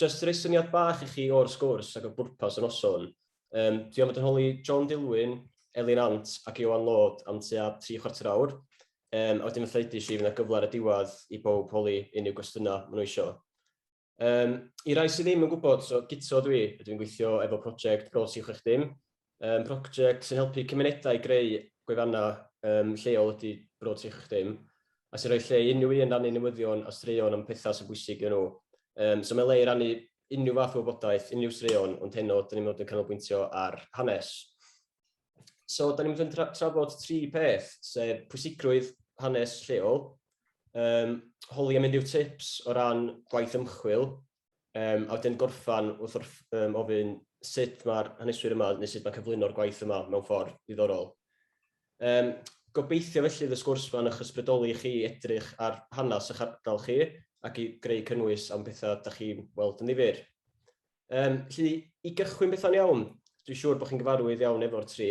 Jyst i roi syniad bach i chi o'r sgwrs ac o bwrpas y noson, yym, dwi am fod yn holi John Dilwyn, Elin Ant ac Ioan Lord am tua tri chwarter awr, yym, a wedyn fatha ddeudais i, fydd 'na gyfle ar y diwedd i bawb holi unrhyw gwestiynau maen nhw isio. Yym, I rai sydd ddim yn gwybod, so guto dwi, a dwi'n gweithio efo project Bro 360, Um, project sy'n helpu cymunedau greu gwefannau um, lleol ydy Bro 30, a sy'n rhoi lle i unrhyw un rannu newyddion a straeon am pethau sy'n bwysig iddyn nhw. Um, so mae le i rannu unrhyw fath o wybodaeth, unrhyw straeon, ond heno, dyn ni'n mynd yn canolbwyntio ar hanes. So, dyn ni'n mynd yn tra trafod tri peth, sef pwysigrwydd hanes lleol, um, holi am unrhyw tips o ran gwaith ymchwil, Um, a wedyn gorffan wrth wrth um, ofyn sut mae'r haneswyr yma, neu sut mae cyflwyno'r gwaith yma mewn ffordd ddiddorol. Um, gobeithio felly y sgwrs yma'n eich ysbrydoli chi edrych ar hanes eich ardal chi ac i greu cynnwys am bethau da chi'n weld yn ddifur. Um, felly, i gychwyn bethau'n iawn, dwi'n siŵr bod chi'n gyfarwydd iawn efo'r tri,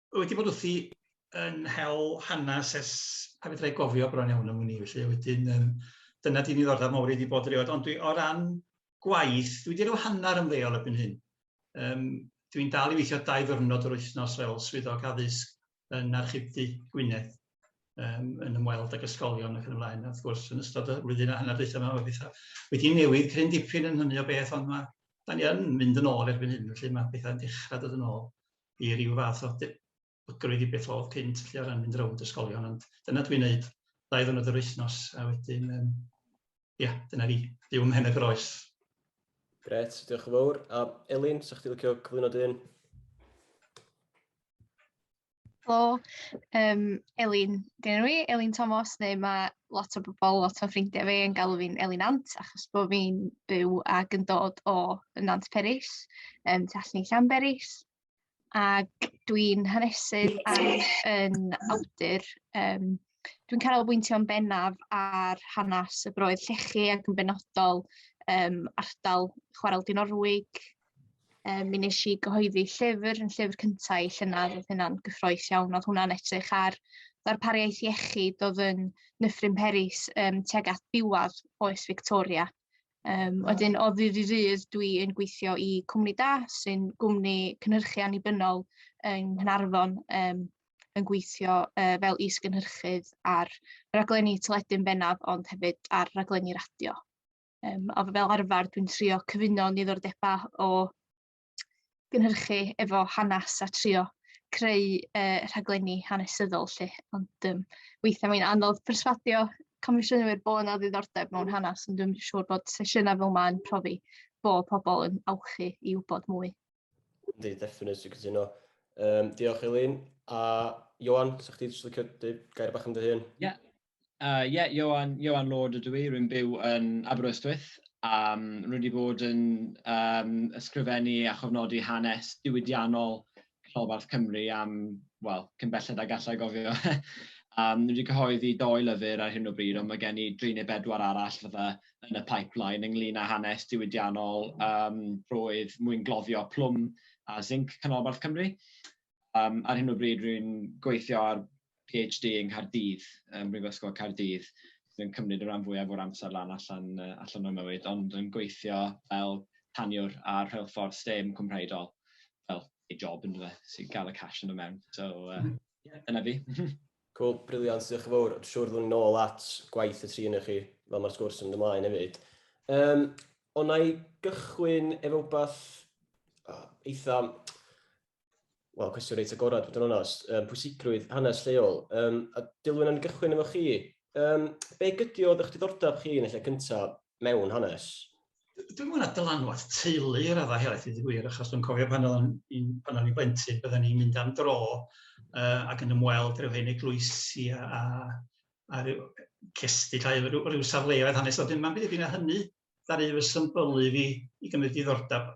wedi bod wrthi yn hel hanes ers pa fedra i gofio bron iawn am wn i, felly wedyn yym dyna 'di ddiddordeb mawr i 'di bod erioed, ond dwi o ran gwaith, dwi 'di rhyw hanner ymddeol erbyn hyn. Yym dwi'n dal i weithio dau ddwrnod yr wythnos fel swyddog addysg yn Archifdy Gwynedd um, yn ymweld ag ysgolion ac yn ymlaen. A wrth gwrs, yn ystod y flwyddyn a hanner dweud yma, mae pethau wedi newid cryn dipyn yn hynny o beth, ond mae, da ni yn mynd yn ôl erbyn hyn, felly mae pethau'n dechrau dod yn ôl. i ryw fath o debygrwydd i beth oedd cynt felly o ran mynd rownd ysgolion ond dyna dwi'n neud ddau ddwrnod yr wythnos a wedyn um, ia, dyna fi, byw ym Mhen y Groes. Gret, diolch yn fawr. A Elin, sa'ch ti licio cyflwyno dyn? Helo, um, Elin, dyn nhw i, Elin Thomas, neu mae lot o bobl, lot o ffrindiau fi yn galw fi'n Elin Nant achos bod fi'n byw ac yn dod o Nant Peris, um, tu allan i Llanberis. Ac dwi'n hanesydd ac yn awdur. Um, dwi'n cael bwyntio'n bennaf ar hanes y broedd llechi ac yn benodol um, ardal Chwarel Dinorwig, Um, mi nes i gyhoeddi llyfr yn llyfr cyntaf i llynedd, oedd hynna'n gyffroes iawn, oedd hwnna'n edrych ar ddarpariaeth iechyd oedd yn Nyffryn Peris um, tuag at diwad oes Victoria. Um, wedyn, o ddydd i ddydd, dwi yn gweithio i Cwmni Da, sy'n gwmni cynhyrchu annibynnol yng Nghynarfon, um, yn gweithio uh, fel is-gynhyrchydd ar raglenni teledu'n bennaf, ond hefyd ar raglenni radio. Yym a fel arfer dwi'n trio cyfuno niddordebau o gynhyrchu efo hanes a trio creu uh, rhaglenni hanesyddol lle. Ond um, weithiau mae'n anodd perswadio comisiynwyr bod yna ddiddordeb mewn hanes, ond dwi'n siŵr bod sesiynau fel mae'n profi bod pobl yn awchu i wybod mwy. Yndi, definitely, dwi'n cytuno. Um, diolch Elin. A Johan, sa'ch ti jyst licio dweud gair bach am dy hun? Ie, yeah. Yy ie, Ioan, Ioan Lord ydw i, rwy'n byw yn Aberystwyth, a rwy wedi bod yn um, ysgrifennu a chofnodi hanes diwydiannol Rholbarth Cymru am, wel, cyn belled a gallai gofio. um, rwy wedi cyhoeddi doi lyfr ar hyn o bryd, ond mae gen i dri neu bedwar arall fydda yn y pipeline ynglyn â hanes diwydiannol um, roedd mwyn gloddio plwm a zinc Canolbarth Cymru. Yym ar hyn o bryd rwy'n gweithio ar PhD yng Nghaerdydd, ym Mhrifysgol Caerdydd, sydd yn cymryd y rhan fwyaf o'r amser lan allan yy allan o'm mywyd, ond yn gweithio fel taniwr ar rheilffordd stêm cwmhraedol, fel ei job yndyfe, jyst i gael y cash yno mewn. So yy ie, dyna fi. Cŵl, briliant, diolch yn fawr. Siŵr fyddwn ni'n ôl at gwaith y tri ohonoch chi fel mae'r sgwrs yn mynd ymlaen hefyd. Yym, ond na i gychwyn efo wbath eitha Wel, cwestiwn reit agorad, bod yn onest. Um, pwysigrwydd hanes lleol. Um, a Dilwyn, yn gychwyn efo chi. Um, be gydio oedd eich diddordeb chi yn y lle cyntaf mewn hanes? Dwi'n mwyn dylanwad teulu yr adda helaeth i ddigwyr, achos dwi'n cofio pan o'n i'n pan o'n i'n blentyn, byddwn ni'n mynd am dro uh, ac yn ymweld rhyw hen eglwysi a, a, a rhyw cestyll a rhyw, rhyw safleoedd hanes. Wedyn mae'n byd i hynny ddaru fy symbylu fi i gymryd diddordeb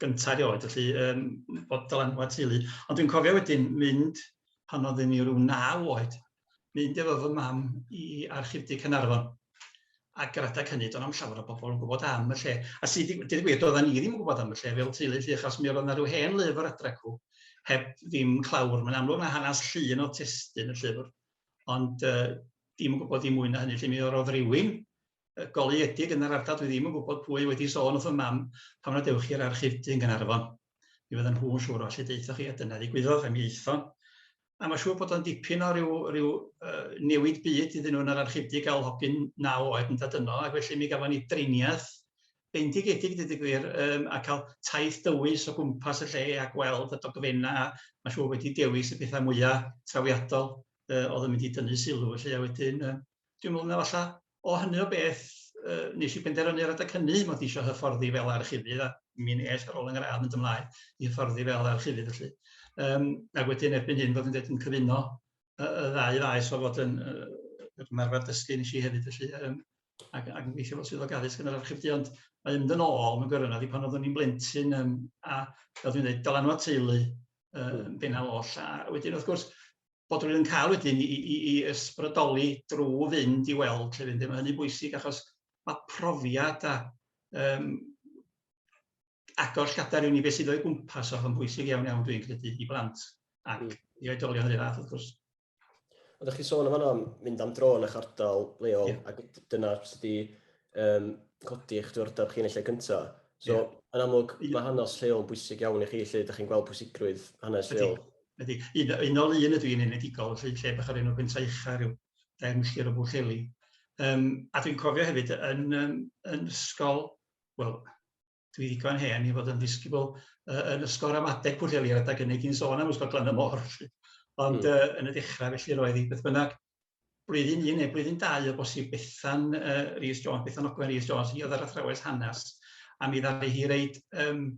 gyntaf erioed, felly um, bod dylanwad teulu. Ond dwi'n cofio wedyn mynd, pan oeddwn ni rhyw naw oed, mynd efo fy mam i archifdy Cynarfon. A yr adeg hynny, do'n am llawer o bobl yn gwybod am y lle. A sydd wedi gwir, gwir, doedden ni ddim yn gwybod am y lle fel teulu llu, achos mi oedd yna rhyw hen lyfr adrecw, heb ddim clawr. Mae'n amlwg na hanes llun o testyn y llyfr, ond uh, dim yn gwybod i mwy na hynny. Lle mi oedd rhywun goleuedig yn yr ardal, dwi ddim yn gwybod pwy wedi sôn wrth y mam pan na dewch i'r archifdy yn Gaernarfon. Mi fydden nhw'n siŵr o allu deuthoch chi a dyna ddigwyddodd a mi aethon. A mae'n siŵr bod o'n dipyn o ryw, ryw uh, newid byd iddyn nhw yn yr archifdy gael hogyn naw oed yn dod yno ac felly mi gafon ni driniaeth bendigedig dweud y gwir um, a cael taith dywys o gwmpas y lle a gweld y dogfenna a mae'n siŵr wedi dewis y pethau mwyaf trawiadol uh, oedd yn mynd i dynnu sylw felly a wedyn uh, Dwi'n meddwl na falla o hynny o beth yy nes i benderfynu ar adeg hynny mod i isio hyfforddi fel archifydd a mi nes ar ôl yng ngradd mynd ymlaen i hyfforddi fel archifydd felly. Yym ac wedyn erbyn hyn fod yn deud yn cyfuno y, y ddau faes o fod yn yr ymarfer dysgu nes i hefyd felly yym ac, ac yn gweithio fel swyddog addysg yn yr archifdy ond mae mynd yn ôl mewn gwirionedd i pan oeddwn i'n blentyn yym, a fel dwi'n dweud dylanwad teulu yn bennaf oll a wedyn wrth gwrs bod rhywun yn cael wedyn i, i, i ysbrydoli drwy fynd i weld lle fynd. Mae hynny'n bwysig achos mae profiad a um, agor llgadar i ni beth sydd o'i gwmpas o'n bwysig iawn iawn dwi'n credu i blant ac mm. i oedolion yr fath wrth gwrs. Ond ydych chi sôn am yno mynd am dro yn eich ardal leol yeah. ac dyna sydd wedi um, codi eich diwrnod chi'n eich gyntaf. So, yeah. yn amlwg, mae hanes lleol yn bwysig iawn i chi, lle ydych chi'n gweld pwysigrwydd hanes lleol. Ydy, un, un ol un ydw i'n enedigol, felly lle bach o'r enw Pentra Ucha, rhyw dair milltir o Bwllheli. Um, a dwi'n cofio hefyd yn, um, yn ysgol, wel, dwi ddigon hen i fod yn ddisgybl uh, yn ysgol ramadeg Pwllheli ar adeg hynny, ti'n sôn am ysgol Glan y Môr, felly. Ond mm. uh, yn y dechrau, felly roedd hi beth bynnag. blwyddyn un neu blwyddyn dau o bosib Bethan uh, Rhys Jones, Bethan Ogwen Rhys Jones, hi oedd yr athrawes hanes, a mi ddaru hi reid um,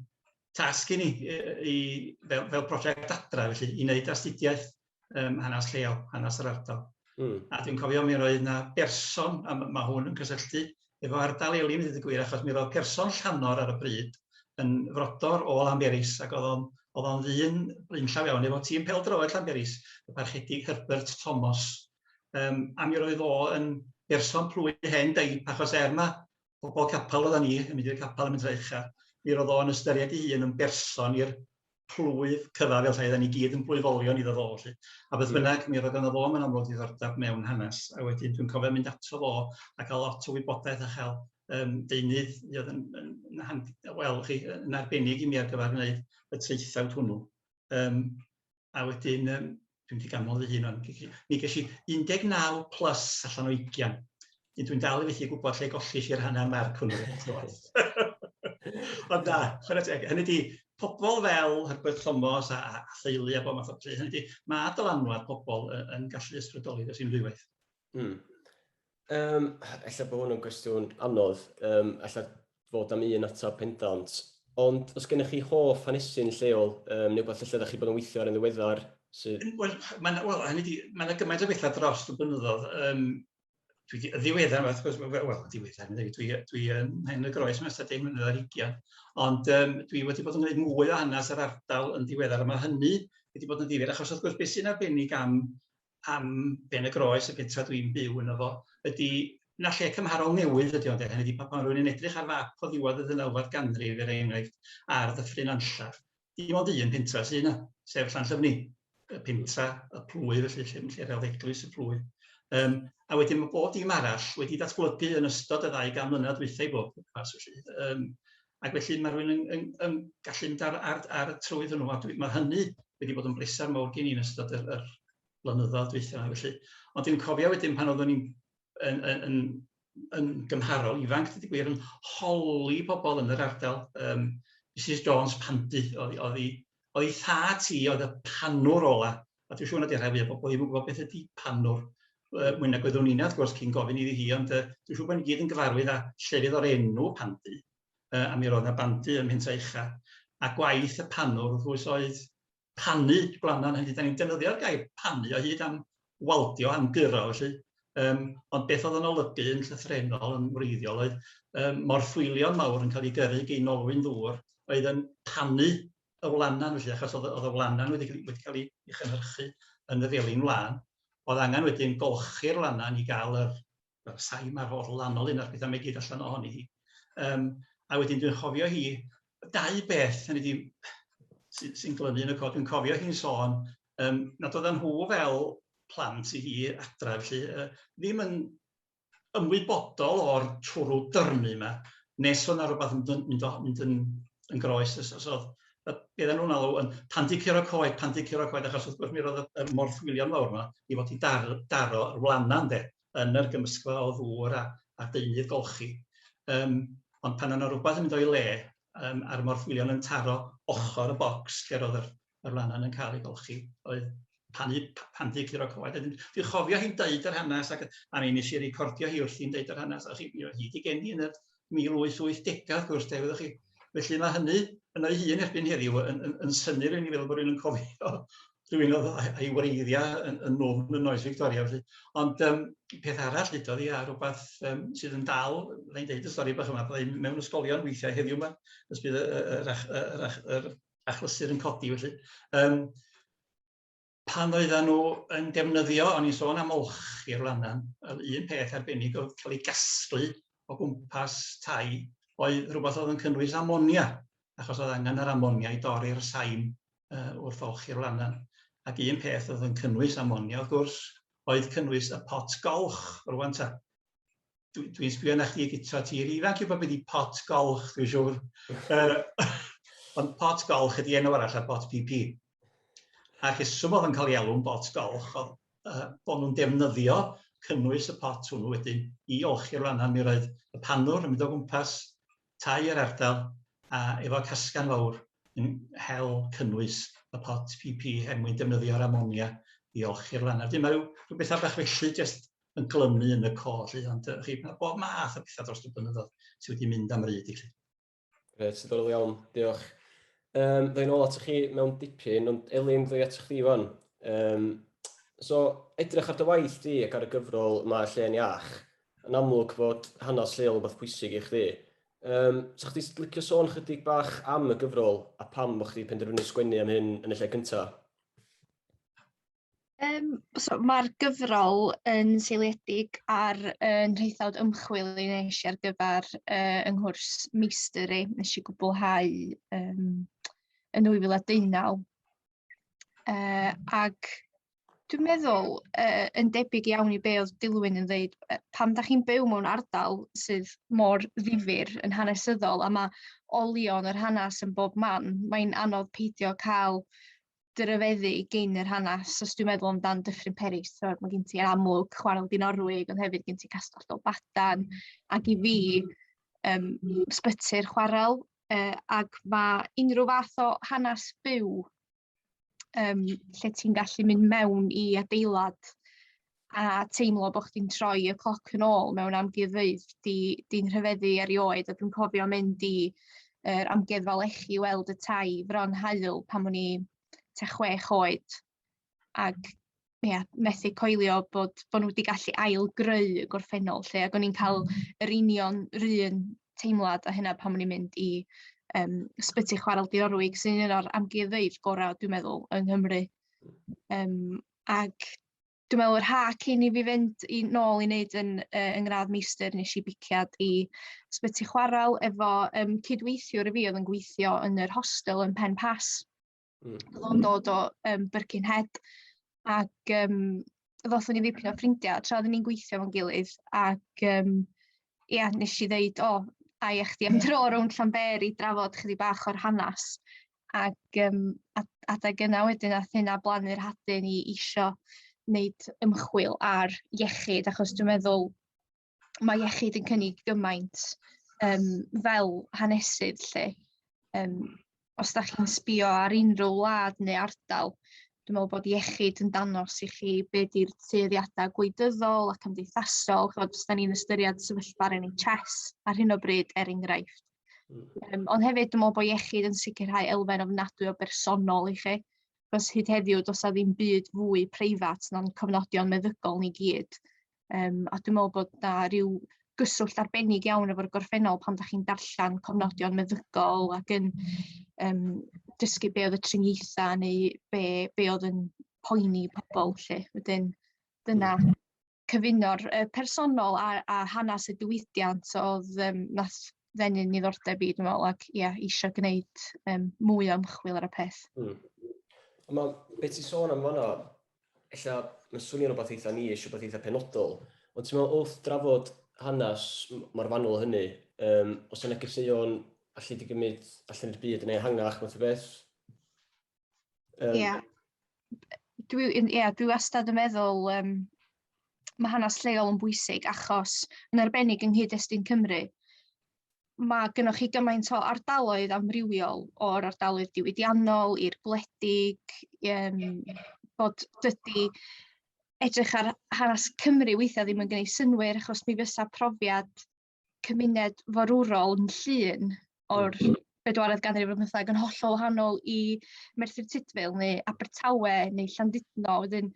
tasg i ni i, fel, fel prosiect adra, felly, i wneud astudiaeth um, hanes lleol, hanes yr ardal. Mm. A dwi'n cofio mi roedd yna berson, a mae hwn yn cysylltu efo ardal Elim i ddeud y gwir achos mi roedd person Llanor ar y bryd yn frodor o Lanberis ac oedd o'n oedd o'n ddyn blaenllaw iawn efo tîm pêl-droed Llanberis, y Parchedig Herbert Thomas. Um, a mi roedd o yn berson plwy hen deip achos er mae pobl capel oedden ni yn mynd i'r capel yn mynd i'r ucha, mi roedd o'n ystyried ei hun yn berson i'r plwyf cyfa fel rhaid, a ni gyd yn blwyfolion iddo fo, felly. A beth bynnag, mi roedd yna fo mewn amlwg ddiddordeb mewn hanes, a wedyn dwi'n cofio mynd ato fo a cael lot o wybodaeth a chael um, deunydd i oedd yn, yn, yn, wel, chi, yn arbennig i mi ar gyfer gwneud y traethawd hwnnw. Um, a wedyn, um, Dwi'n mynd i ganmol fy hun o'n. Mi ges i 19 plus allan o 20. Nid dwi'n dal i fethu gwybod lle gollis i'r hanner marc hwnnw. Ond da, chwarae teg. Hynny di, pobl fel Herbert Thomas a, a, a theulu a bob math o beth. Hynny di, mae dylanwad pobl yn, yn gallu ysbrydoli dros unrhyw beth. Hmm. Um, ella bod hwn yn gwestiwn anodd, um, ella fod am un atab pendant, ond os gennych chi hoff hanesy'n lleol, um, neu beth lle ydych chi bod yn weithio ar yn ddiweddar, sydd... Wel, mae'n well, hynny di, mae'n yna gymaint o bethau dros y blynyddoedd. Um, dwi di, ddiweddar, wrth gwrs, wel, well, ddiweddar, dwi, dwi, dwi yn hen y groes mae'n ystod deg mlynedd ar hugian, ond um, dwi wedi bod yn gwneud mwy o hanes yr ardal yn ddiweddar, a mae hynny wedi bod yn ddifyr, achos wrth gwrs, beth sy'n arbennig am am Ben y Groes, y pentref dwi'n byw yno fo, ydy na lle cymharol newydd ydy o ynde, hynny ydi pan pan rwy'n yn edrych ar fap o ddiwedd y ddeunawfed ganrif er enghraifft ar ddyffryn Anllar, dim ond un pentra sydd yna, sef Llanllyfni, y pentra y plwy felly lle lle rhawd eglwys y plwy. Um, a wedyn mae bob dim arall wedi datblygu yn ystod y ddau gan mlynedd dwythau bob pas felly. Um, Ac felly mae rhywun yn yn yn gallu mynd ar ar ar y trywydd hwnnw a dwi... mae hynny wedi bod yn bleser mawr gen i yn ystod yr yr blynyddoedd dwytha felly. Ond dwi'n cofio wedyn pan oeddwn i'n yn yn yn yn gymharol ifanc dydy gwir yn holi pobl yn yr ardal yym Misus Jones Pandy o'dd o'dd 'i o'i thad hi oedd y panwr ola', a dwi'n siŵr nad 'di rhai fwyaf o bobl ddim yn gwybod beth ydi panwr, yy mwy nag oeddwn inna wrth gwrs cyn gofyn iddi hi, ond yy dwi'n siŵr bod ni gyd yn gyfarwydd â llefydd o'r enw Pandy, yy a mi roedd 'na bandy ym Mhentre Ucha, a gwaith y panwr wrth gwrs oedd panu gwlanan, hynny ydi 'dan ni'n defnyddio'r gair panu o hyd am waldio am guro felly, um, ond beth oedd yn olygu yn llythrenol yn wreiddiol oedd um, morffwylion mawr yn cael ei gyrru gyn olwyn ddŵr oedd yn panu y wlanan felly, achos oedd, oedd y wlanan wedi, wedi cael ei chynhyrchu yn y felin wlan. Oedd angen wedyn golchi'r wlanan i gael yr y sain ma'r holl lanol un o'r pethau mae gyd allan ohoni hi. Um, a wedyn dwi'n chofio hi, dau beth hynny di, sy'n sy glynu yn y cod, dwi'n cofio hi'n sôn um, nad oedden nhw fel plant i hi adref, lle, uh, ddim yn ymwybodol o'r twrw dyrnu yma, nes o'na rhywbeth yn mynd, mynd, mynd yn, yn groes, os, os oedd bydd nhw'n alw yn pan di curo coed, pan di curo coed, achos wrth gwrs mi roedd y morthwylion fawr yma i fod i dar, daro yr wlana ynde. yn yr gymysgfa o ddŵr a a deunydd golchi. Yym ond pan o' 'na rwbath yn mynd o'i le yym a'r morthwylion yn taro ochor y bocs lle ro'dd yr yr wlanan yn ca'l ei golchi oedd pan u- p- pan fu curo cyhoedd wedyn dwi'n chofio hi'n deud yr hanas ac a mi nesh i recordio hi wrthi'n deud yr hanas a hi 'di geni yn y 1880 wrth gwrs 'de, wyddoch chi. Felly mae hynny yn o'i hun erbyn heddiw yn, yn, yn synnir i ni fel bod rhywun yn cofio rhywun oedd a'i wreiddiau yn, yn nofn yn oes Victoria. Felly. Ond um, peth arall ddudodd i a rhywbeth um, sydd yn dal, fe'n deud y stori bach yma, byddai mewn ysgolion weithiau heddiw yma, ys bydd yr, yr, yr, yr achlysur yn codi felly. Um, pan oedden nhw yn defnyddio, o'n i'n sôn am olch i'r lannan, yr un peth arbennig oedd cael ei gasglu o gwmpas tai, oedd rhywbeth oedd yn cynnwys amonia, achos oedd angen yr amonia i dorri'r sain uh, wrth olch i'r lannan. Ac un peth oedd yn cynnwys amonia, wrth gwrs, oedd cynnwys y pot golch, rwan ta. dwi, dwi sbio na chdi gyda ti i'r ifanc i bod wedi pot golch, dwi'n siŵr. uh, ond pot golch ydi enw arall ar bot PP. A rheswm oedd yn cael ei alw'n bot golch oedd uh, bod nhw'n defnyddio cynnwys y pot hwnnw wedyn i olchi'r lannan. Mi roedd y panwr yn mynd o gwmpas tai yr ardal a efo casgan fawr yn hel cynnwys y pot PP er mwyn defnyddio'r amonia i olchi'r lannan. Dyma rhyw, rhyw bethau bach felly, jyst yn glymu yn y côr, lly, ond uh, chi, mae bob math o bethau dros y blynyddoedd sydd wedi mynd am ryd i chi. Gret, diddorol iawn, diolch. Um, Ddwy'n ôl atoch chi mewn dipyn, ond Elin, ddwy atoch chi fan. Um, so, edrych ar dy waith di ac ar y gyfrol yma lle yn iach, yn amlwg fod hanes lleol yn beth pwysig i chdi. Um, so, chdi licio sôn chydig bach am y gyfrol a pam bod chdi penderfynu sgwennu am hyn yn y lle cyntaf? Um, so, Mae'r gyfrol yn seiliedig ar uh, nhraethawd ymchwil i nes i ar gyfer uh, yng nghwrs meistr i nes i gwblhau um, yn 2019. Uh, ac dwi'n meddwl uh, yn debyg iawn i be oedd Dilwyn yn dweud, uh, pam da chi'n byw mewn ardal sydd mor ddifur yn hanesyddol a mae olion yr hanes yn bob man, mae'n anodd peidio cael dy ryfeddu gyn yr hanes os dwi'n meddwl amdan Dyffryn Peris so mae gen ti amlwg chwarel Dinorwig ond hefyd gen ti Castell Dolbadan ac i fi um, sbyty'r chwarel uh, ac mae unrhyw fath o hanes byw um, lle ti'n gallu mynd mewn i adeilad a teimlo bo' chdi'n troi y cloc yn ôl mewn amgueddfeydd 'di 'di'n rhyfeddu erioed a dwi'n cofio mynd i yr Amgueddfa Lechi i weld y tai Fron Haul pan o'n i tua chwech oed ag ia methu coelio bod bo' n'w 'di gallu ail greu y gorffennol 'lly ag o'n i'n ca'l yr union 'r un teimlad â hynna pan o'n i'n mynd i yym Ysbyty Chwarel Dinorwig sy'n un o'r amgueddfeydd gora' dwi meddwl yng Nghymru yym ag dwi'n meddwl yr ha cyn i fi fynd i nôl i wneud yn, uh, yng ngradd meistr nes i biciad i sbyty chwarel efo um, cydweithiwr i fi oedd yn gweithio yn yr hostel yn Pen Pas. Mm. Oedd o'n dod o um, Birkenhead ac um, ddothon ni ddipyn o ffrindiau tra oedden ni'n gweithio fo'n gilydd ac um, ia, nes i ddeud, o, oh, a i eich di am dro rownd Llanberi drafod chydig bach o'r hanes ac um, adeg yna wedyn ath hynna blannu'r hadyn i isio wneud ymchwil ar iechyd, achos dwi'n meddwl mae iechyd yn cynnig gymaint um, fel hanesydd lle. Um, os da chi'n sbio ar unrhyw wlad neu ardal, dwi'n meddwl bod iechyd yn danos i chi be di'r tueddiadau gwleidyddol a cymdeithasol, chod os da ni'n ystyried sefyllfa'r NHS ar hyn o bryd er enghraifft, Um, ond hefyd, dwi'n meddwl bod iechyd yn sicrhau elfen ofnadwy o bersonol i chi. Cos hyd heddiw, does na ddim byd fwy preifat na'n cofnodion meddygol ni gyd. Um, a dwi'n meddwl bod na rhyw gyswllt arbennig iawn efo'r gorffennol pan da chi'n darllen cofnodion meddygol ac yn um, dysgu be oedd y triniaethau neu be, be oedd yn poeni pobl lle. Wedyn, dyna, cyfuno'r yy personol a a hanas y diwydiant o'dd yym nath ddenu niddordeb i dwi me'wl ac ia isio gneud yym mwy o ymchwil ar y peth. Hmm. Ond ma' be' ti'n sôn am fan'na ella ma'n swnio'n rwbath eitha niche rwbath eitha penodol ond ti'n me'wl wrth drafod hanes m- mor fanwl â hynny yym o's 'na negeseuon alle di gymryd allan i'r byd yn ehangach math o beth? Um, yeah. Dwi, yeah, dwi wastad yn meddwl um, mae hanes lleol yn bwysig achos yn arbennig yng nghyd-destun Cymru, mae gennych chi gymaint o ardaloedd amrywiol o'r ardaloedd diwydiannol i'r gwledig, um, bod dydy edrych ar hanes Cymru weithiau ddim yn gwneud synwyr achos mi fysa profiad cymuned forwrol yn llun o'r mm. bedwaredd ganrif ar bymtheg yn hollol wahanol i Merthyr Tudful neu Abertawe neu Llandudno. Wedyn,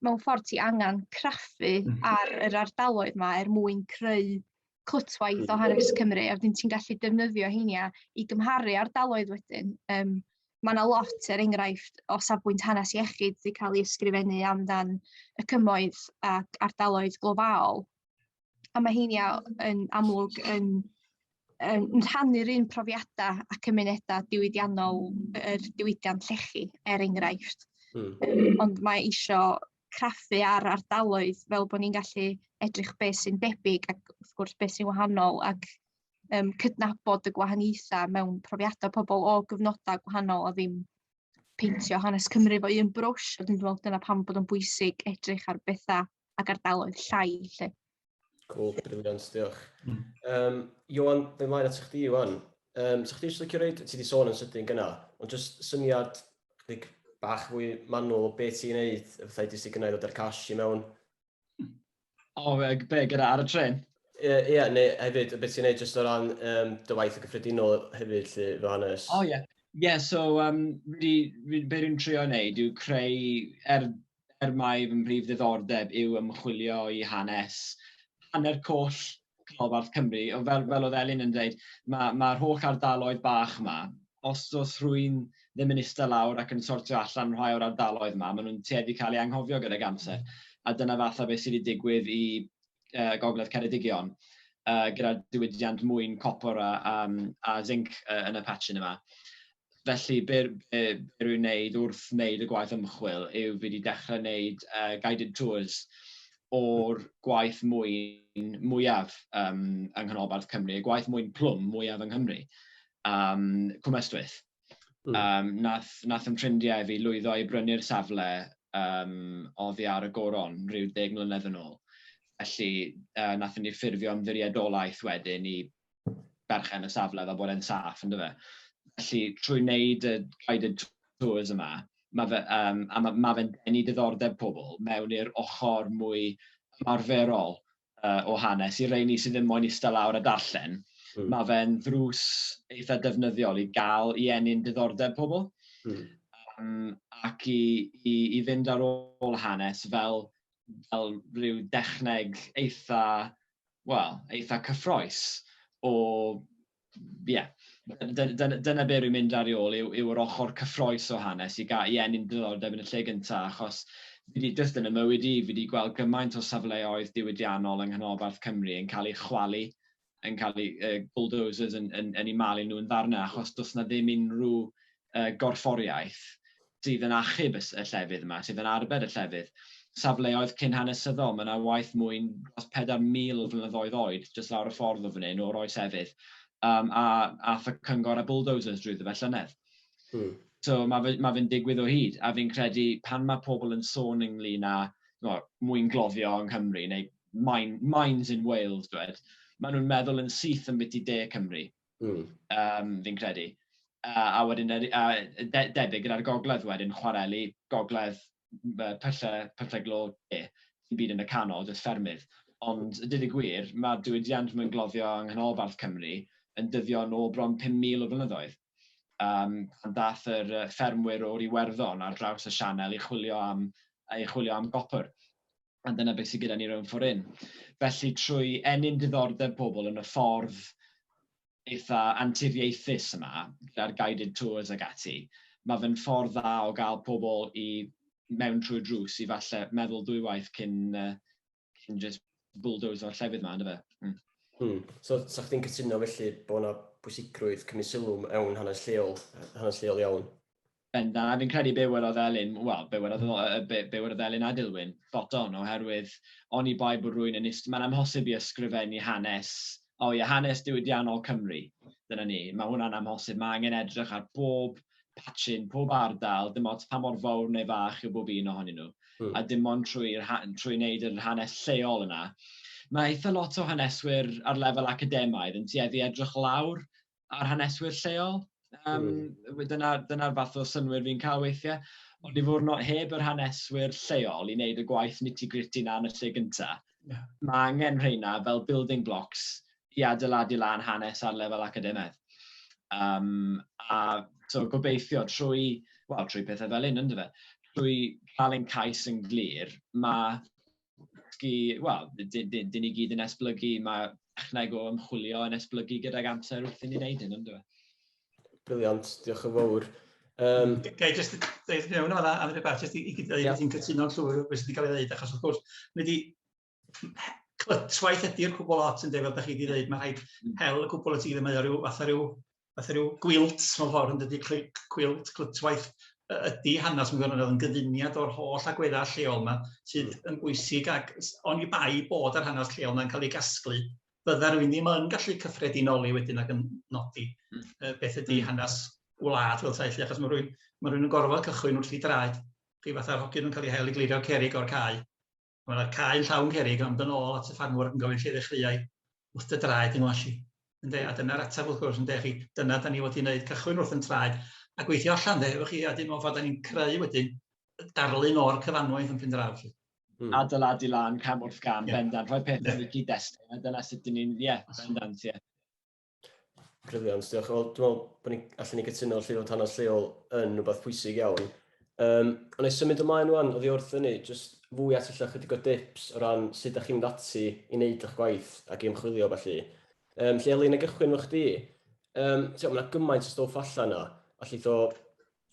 mewn ffordd ti angen craffu mm. ar yr ardaloedd yma er mwyn creu clytwaith o hanes Cymru a wedyn ti'n gallu defnyddio heiniau i gymharu ardaloedd wedyn. Um, mae yna lot, er enghraifft, o safbwynt hanes iechyd wedi cael ei ysgrifennu amdan y cymoedd ac ardaloedd glofaol a ma' heini a- yn amlwg yn yn yn rhannu'r un profiada a cymuneda diwydiannol yr diwydiant llechi er enghraifft. Hmm. Ond mae isio craffu ar ardaloedd fel bod ni'n gallu edrych beth sy'n debyg ac wrth gwrs beth sy'n wahanol ac um, cydnabod y gwahaniaethau mewn profiadau pobl o gyfnodau gwahanol a ddim peintio hanes Cymru fo un brwsh, a dwi'n meddwl dyna pam bod o'n bwysig edrych ar bethau ac ardaloedd llai lle. Cool, briliant, diolch. Mm. Um, Johan, fe mlaen at chdi, Johan. Um, so chdi eisiau licio reid, ti wedi sôn yn sydyn gyna, ond jyst syniad chdig bach fwy manwl o beth ti'n neud, y fathau di sy'n gynnau ddod â'r cash i mewn. O, fe, be, gyda ar y tren? Ie, yeah, yeah, neu hefyd, beth ti'n neud jyst o ran um, dy waith y gyffredinol hefyd, lle, fy hanes. O, oh, ie. Yeah. Ie, yeah, so, um, fi, fi, be dwi'n trio wneud yw creu, er er mai fy mhrif ddiddordeb yw ymchwilio i hanes, hanner coll canolbarth Cymru, fel, fel oedd Elin yn dweud, mae'r ma holl ardaloedd bach yma, os os rwy'n ddim yn ista lawr ac yn sortio allan rhai o'r ardaloedd yma, maen nhw'n tueddu cael eu anghofio gydag amser. A dyna fatha beth sydd wedi digwydd i uh, Gogledd Ceredigion uh, gyda'r diwydiant mwyn copor a, a, a zinc uh, yn y patchin yma. Felly, be rwy'n wneud wrth wneud y gwaith ymchwil yw fi wedi dechrau wneud uh, guided tours o'r gwaith mwyn mwyaf um, yng Nghanolbarth Cymru, y gwaith mwyn plwm mwyaf yng Nghymru, um, Cwmystwyth. Mm. Um, nath, nath yn ffrindiau fi lwyddo i brynu'r safle um, oddi ar y goron rhyw deg mlynedd yn ôl. Felly, uh, nath ni ffurfio'n ddiriedolaeth wedyn i berchen y safle fel bod e'n saff yn dyfe? Felly trwy wneud y guided tours yma, mae fe, um, a mae, mae fe'n denu diddordeb pobl mewn i'r ochr mwy ymarferol uh, o hanes i reini sydd ddim moyn eistedd lawr a darllen. Mm. Mae fe'n ddrws eitha defnyddiol i gael i enni'n diddordeb pobl mm. um, ac i, i, i fynd ar ôl hanes fel, fel rhyw dechneg eitha wel, eitha cyffroes o, ie, dyna be rwy'n mynd ar ei ôl yw, yw yr ochr cyffroes o hanes i gael i enni'n ddiddordeb yn y lle gyntaf, achos fi wedi just yn y mywyd i, fi wedi gweld gymaint o safleoedd diwydiannol yng nghanolbarth Cymru yn cael ei chwalu, yn cael ei uh, bulldozers yn, yn, yn ei malu nhw'n ddarnau, achos does na ddim unrhyw yy gorfforiaeth sydd yn achub y llefydd yma, sydd yn arbed y llefydd, safleoedd cyn hanesyddol, mae yna waith mwy dros 4,000 o flynyddoedd oed jyst lawr y ffordd o fan hyn, o'r oes efydd, um, a ath y cyngor a bulldozers drwyddo fe llynedd. Hmm. So mae fe'n ma fe digwydd o hyd, a fi'n credu pan mae pobl yn sôn ynglyn â no, mwyn gloddio yng Nghymru, neu mine, mines in Wales, dwed, maen nhw'n meddwl yn syth yn bit i de Cymru. Mm. Um, fi'n credu. Uh, a wedyn, a, de, debyg gyda'r gogledd wedyn, chwareli, gogledd, pyllau, pyllau glo, e, sy'n byd yn y canol, jyst ffermydd. Ond, y dyd y gwir, mae diwydiant mwyn gloddio yng nghanolbarth Cymru yn dyddio yn ôl bron 5,000 o flynyddoedd. Um, pan dath yr ffermwyr o'r Iwerddon ar draws y Sianel i chwilio am, i chwilio am gopr. A dyna beth sydd gyda ni rownd ffordd hyn. Felly, trwy ennyn diddordeb pobl yn y ffordd eitha anturiaethus yma, gyda'r guided tours ag ati, mae fe'n ffordd dda o gael pobl i mewn trwy drws i falle meddwl dwy waith cyn, cyn just bulldozer o'r llefydd yma, ynddo fe? Mm. Hmm. So, sa chdi'n cytuno felly bod yna bwysigrwydd cymryd sylw mewn hanes lleol, hanes lleol iawn? Bendant, fi'n credu be welodd Elin, wel, be welodd, be, be welodd Elin a Dilwyn, spot on, oherwydd oni bai bod rwy'n yn ist, mae'n amhosib i ysgrifennu hanes, o oh, ie, hanes diwydiannol Cymru, dyna ni, mae hwnna'n amhosib, mae angen edrych ar bob patchyn, pob ardal, dim ots pa mor fawr neu fach yw bob un ohonyn nhw, mm. a dim ond trwy, trwy wneud yr hanes lleol yna. Mae eitha lot o haneswyr ar lefel academaidd yn tueddu edrych lawr a'r haneswyr lleol, yym dyna dyna'r fath o synnwyr fi'n cael weithie. Ond i fod yn o- heb yr haneswyr lleol i wneud y gwaith nitty-gritty 'na yn y lle gynta'... Ie. ...ma' angen rheina fel building blocks i adeiladu lan hanes ar lefel academaidd. Yym a so gobeithio trwy, wel trwy pethe fel 'yn yndyfe, trwy ca'l ein cais yn glir, ma' dysgu, wel, dyn ni gyd yn esblygu, mae techneg o ymchwilio yn esblygu gydag amser wrth i ni wneud hyn, ynddo fe? Briliant, diolch yn fawr. Um, Gai jyst dweud mewn o'n am rhywbeth, jyst i, i gyda yeah. ti'n cytuno'n llwyr beth sydd wedi cael ei ddweud, achos wrth gwrs, mae wedi clytwaith ydy'r cwbl lot yn dweud, fel da chi wedi dweud, mae rhaid mm. hel y cwbl y ti ddim mae o rhyw, fath o rhyw fatha rhyw gwilt mewn ffordd yn dydi, clyc, cwilt, clytwaith y- ydi hanes mewn gwirionedd yn gyfuniad o'r holl agweddau lleol yma sydd hmm. yn bwysig ac s- oni bai bod yr hanes lleol yna'n cael ei gasglu, bydda rwy'n ddim yn gallu cyffredinoli wedyn ac yn nodi hmm. yy, beth ydi hmm. hanes wlad fel taith, achos mae rwy'n ma rwy'n yn gorfod cychwyn wrth i draed chi fatha'r hogyn yn cael ei hel i glirio cerig o'r cae. Mae yna cae'n llawn cerrig ond yn ôl at y ffarmwr yn gofyn lle ddechreuai, wrth dy draed di ngwashi. Ynde, a dyna'r ateb wrth gwrs ynde chi, dyna da ni wedi wneud, cychwyn wrth yn traed a gweithio allan de, efo chi, a dim ond ffordd da ni'n creu wedyn darlun o'r cyfanwaith yn Pendraw chi. Mm. Adeiladu lan cam wrth gam, yeah. bendant, rhoi pethau yeah. yn y cyd-destun, a dyna sut dyn ni'n, ie, yeah, bendant, ie. Yeah. Briliant, diolch. Wel, dwi'n meddwl bod ni allan ni gytuno lle fod hanes lleol yn rhywbeth pwysig iawn. Um, ond ei symud ymlaen rwan, oedd i wrth hynny, jyst fwy at allan chydig o dips o ran sut ydych chi'n mynd ati i wneud eich gwaith ac i ymchwilio felly. Um, lle Elin, y gychwyn fo chdi, um, mae yna gymaint o stoff allan yna, a lle o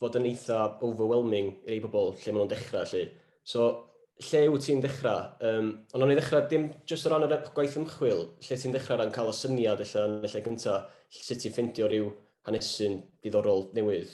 fod yn eitha overwhelming i rei pobl lle maen nhw'n dechrau, lle. So, lle yw ti'n dechrau? Um, ond o'n i ddechrau dim jyst o ran y gwaith ymchwil, lle ti'n dechrau rhan cael y syniad illa yn y lle gyntaf, sut ti'n ffeindio rhyw hanesyn diddorol newydd?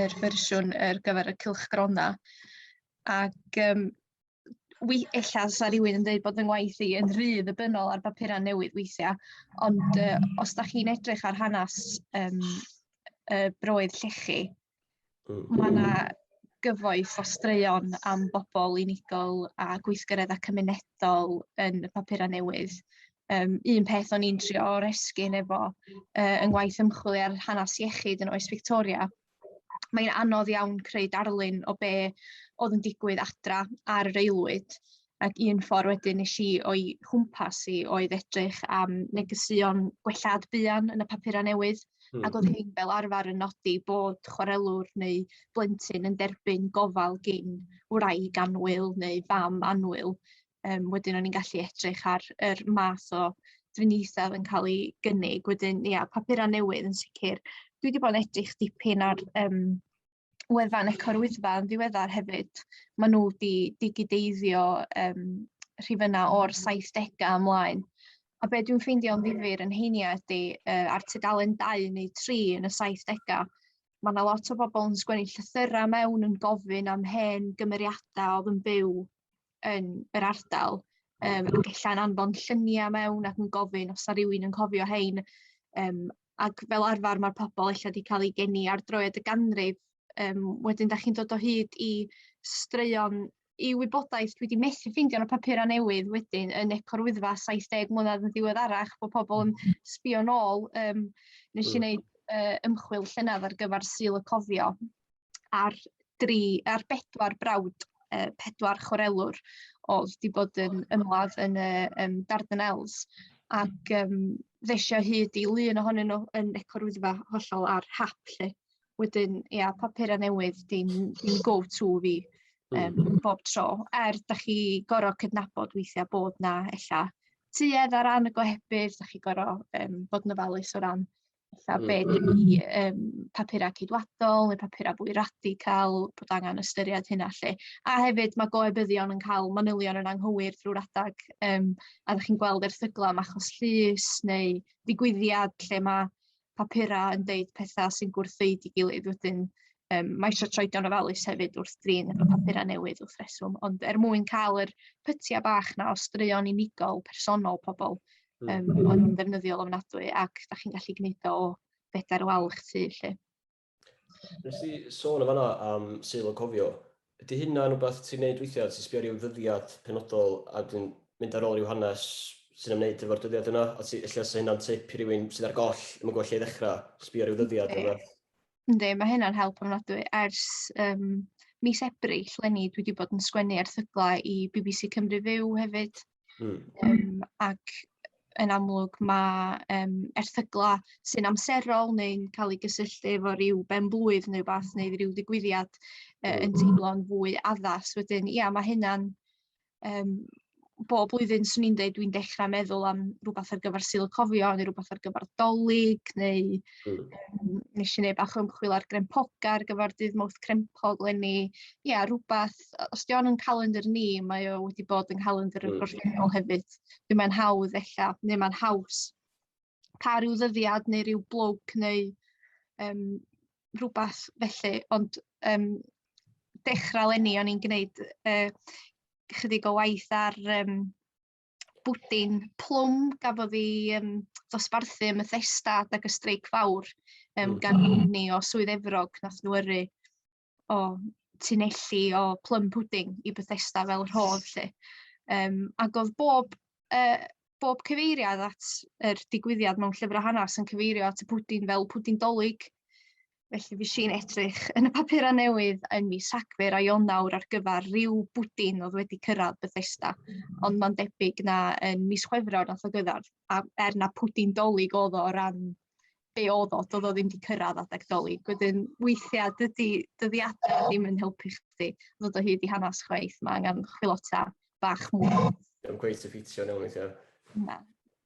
yr fersiwn ar gyfer y cylchgronau. Ac um, wi, ella sa rhywun yn dweud bod yng ngwaith i yn rhy ddibynol ar bapurau newydd weithiau, ond uh, os da chi'n edrych ar hanes um, y broedd llechi, mm. mae yna gyfoeth o straeon am bobl unigol a gweithgareddau cymunedol yn y papurau newydd. um, un peth o'n i'n trio o'r esgyn efo uh, yng ngwaith ymchwil ar hanes iechyd yn oes Victoria. Mae'n anodd iawn creu darlun o be oedd yn digwydd adra ar yr aelwyd ac un ffordd wedyn nes i o'i chwmpas i oedd edrych am negeseuon gwellad buan yn y papurau newydd mm. ac oedd hmm. hyn fel arfer yn nodi bod chwarelwr neu blentyn yn derbyn gofal gyn wraig anwyl neu fam anwyl um, wedyn o'n i'n gallu edrych ar yr math o drinithau yn cael ei gynnig. Wedyn, ia, yeah, papurau newydd yn sicr. Dwi wedi bod yn edrych dipyn ar um, wefan Eco'r Wyddfa yn ddiweddar hefyd. Mae nhw wedi digideiddio um, rhifynnau o'r 70au ymlaen. A be dwi'n ffeindio'n ddifur yn heiniau ydy uh, ar tudalen 2 neu 3 yn y 70au, mae yna lot o bobl yn sgwennu llythyrau mewn yn gofyn am hen gymeriadau oedd yn byw yn yr ardal, um, ac ella'n anfon lluniau mewn ac yn gofyn os na rhywun yn cofio hein. Um, ac fel arfer mae'r pobl eich wedi cael ei geni ar droed y ganrif. Um, wedyn, da chi'n dod o hyd i straeon i wybodaeth dwi wedi methu ffeindio yn y papurau newydd wedyn yn Eco'r Wyddfa 70 mlynedd yn ddiweddarach bod pobl yn mm-hmm. sbio nôl. Um, nes i wneud uh, ymchwil llynedd ar gyfer Sil y Cofio ar, dri, ar bedwar brawd, uh, pedwar chwarelwr oedd wedi bod yn ymladd yn y um, Dardanelles ac um, ddesio hyd i lun ohonyn nhw yn ecorwyddfa hollol ar hap lle. Wedyn, ia, papur a newydd, dim, dim go-to fi um, bob tro. Er, da chi gorau cydnabod weithiau bod na ella tuedd ar ran y gohebydd, da chi gorau um, bod yn ofalus o ran Ella be ydy um, papurau ceidwadol neu papurau fwy radical, bod angen ystyried hynna lle. A hefyd mae goebyddion yn cael manylion yn anghywir drwy'r adag um, a ddech chi'n gweld erthyglau am achos llys neu digwyddiad lle mae papurau yn deud pethau sy'n gwrthfeid i gilydd wedyn um, mae eisiau troedio'n ofalus hefyd wrth drin efo papurau newydd wrth reswm, ond er mwyn cael yr pytiau bach na o straeon unigol personol pobl, Yym mm. o'n i'n ddefnyddiol ofnadwy ac da chi'n gallu gwneud o bedair wal eich tu lle. Nes i sôn yn fanna am syl o cofio. Ydy hynna yn rhywbeth ti'n neud weithiau, ti'n sbio rhyw ddyddiad penodol a dyn mynd ar ôl rhyw hanes sy'n ymwneud efo'r dyddiad yna, a ti, lle sy'n hynna'n tip i rywun sydd ar goll, ddim yn gwybod lle i ddechrau, sbio rhyw ddyddiad yna. Ynddi, mae hynna'n help ofnadwy. Ers um, mis Ebrill lenni, dwi wedi bod yn sgwennu erthyglau i BBC Cymru Fyw hefyd, Mm. Um, ac yn amlwg mae um, erthyglau sy'n amserol neu'n cael eu gysylltu efo rhyw ben blwydd neu beth neu rhyw ddigwyddiad uh, yn hmm. teimlo'n fwy addas. Wedyn, ia, mae hynna'n... Um, bob blwyddyn swn i'n dweud dwi'n dechrau meddwl am rhywbeth ar gyfer syl y cofio neu rhywbeth ar gyfer dolyg neu mm. um, nes i wneud bach o ymchwil ar grempoga ar gyfer dydd mawth crempog lenni. Ia, rhywbeth hefyd, os di o'n yn calendr ni, mae o wedi bod yn calendr y mm. gorffennol hefyd. Dwi'n mae'n hawdd ella, neu mae'n haws. Pa rhyw ddyddiad neu rhyw blwg neu um, rhywbeth felly, ond um, dechrau lenni o'n i'n gwneud uh, chydig o waith ar um, bwdin plwm gafodd i um, ddosbarthu ym Methesda ac y streic fawr um, gan mm. ni o Swydd Efrog nath nhw yrru o tunelli o plum pudding i Bethesda fel rhodd 'lly. Yym ac o'dd bob yy bob cyfeiriad at yr digwyddiad mewn llyfr a hanas yn cyfeirio at y pwdin fel pwdin 'Dolig. Felly fuesh i'n edrych yn y papura' newydd yn mis Rhagfyr a Ionawr ar gyfar ryw bwdin o'dd wedi cyrradd Bethesda ond ma'n debyg na yn mis Chwefror nath o gyrradd a er na pwdin 'Dolig o'dd o o ran be oedd o, doedd o ddim wedi cyrraedd adeg doli. Gwydyn, weithiau, dydy dyddiadau ddim yn helpu chdi ddod o hyd i hanes chweith. Mae angen chwilota bach mwy. Dwi'n gweithio ffitio nhw weithiau. Na.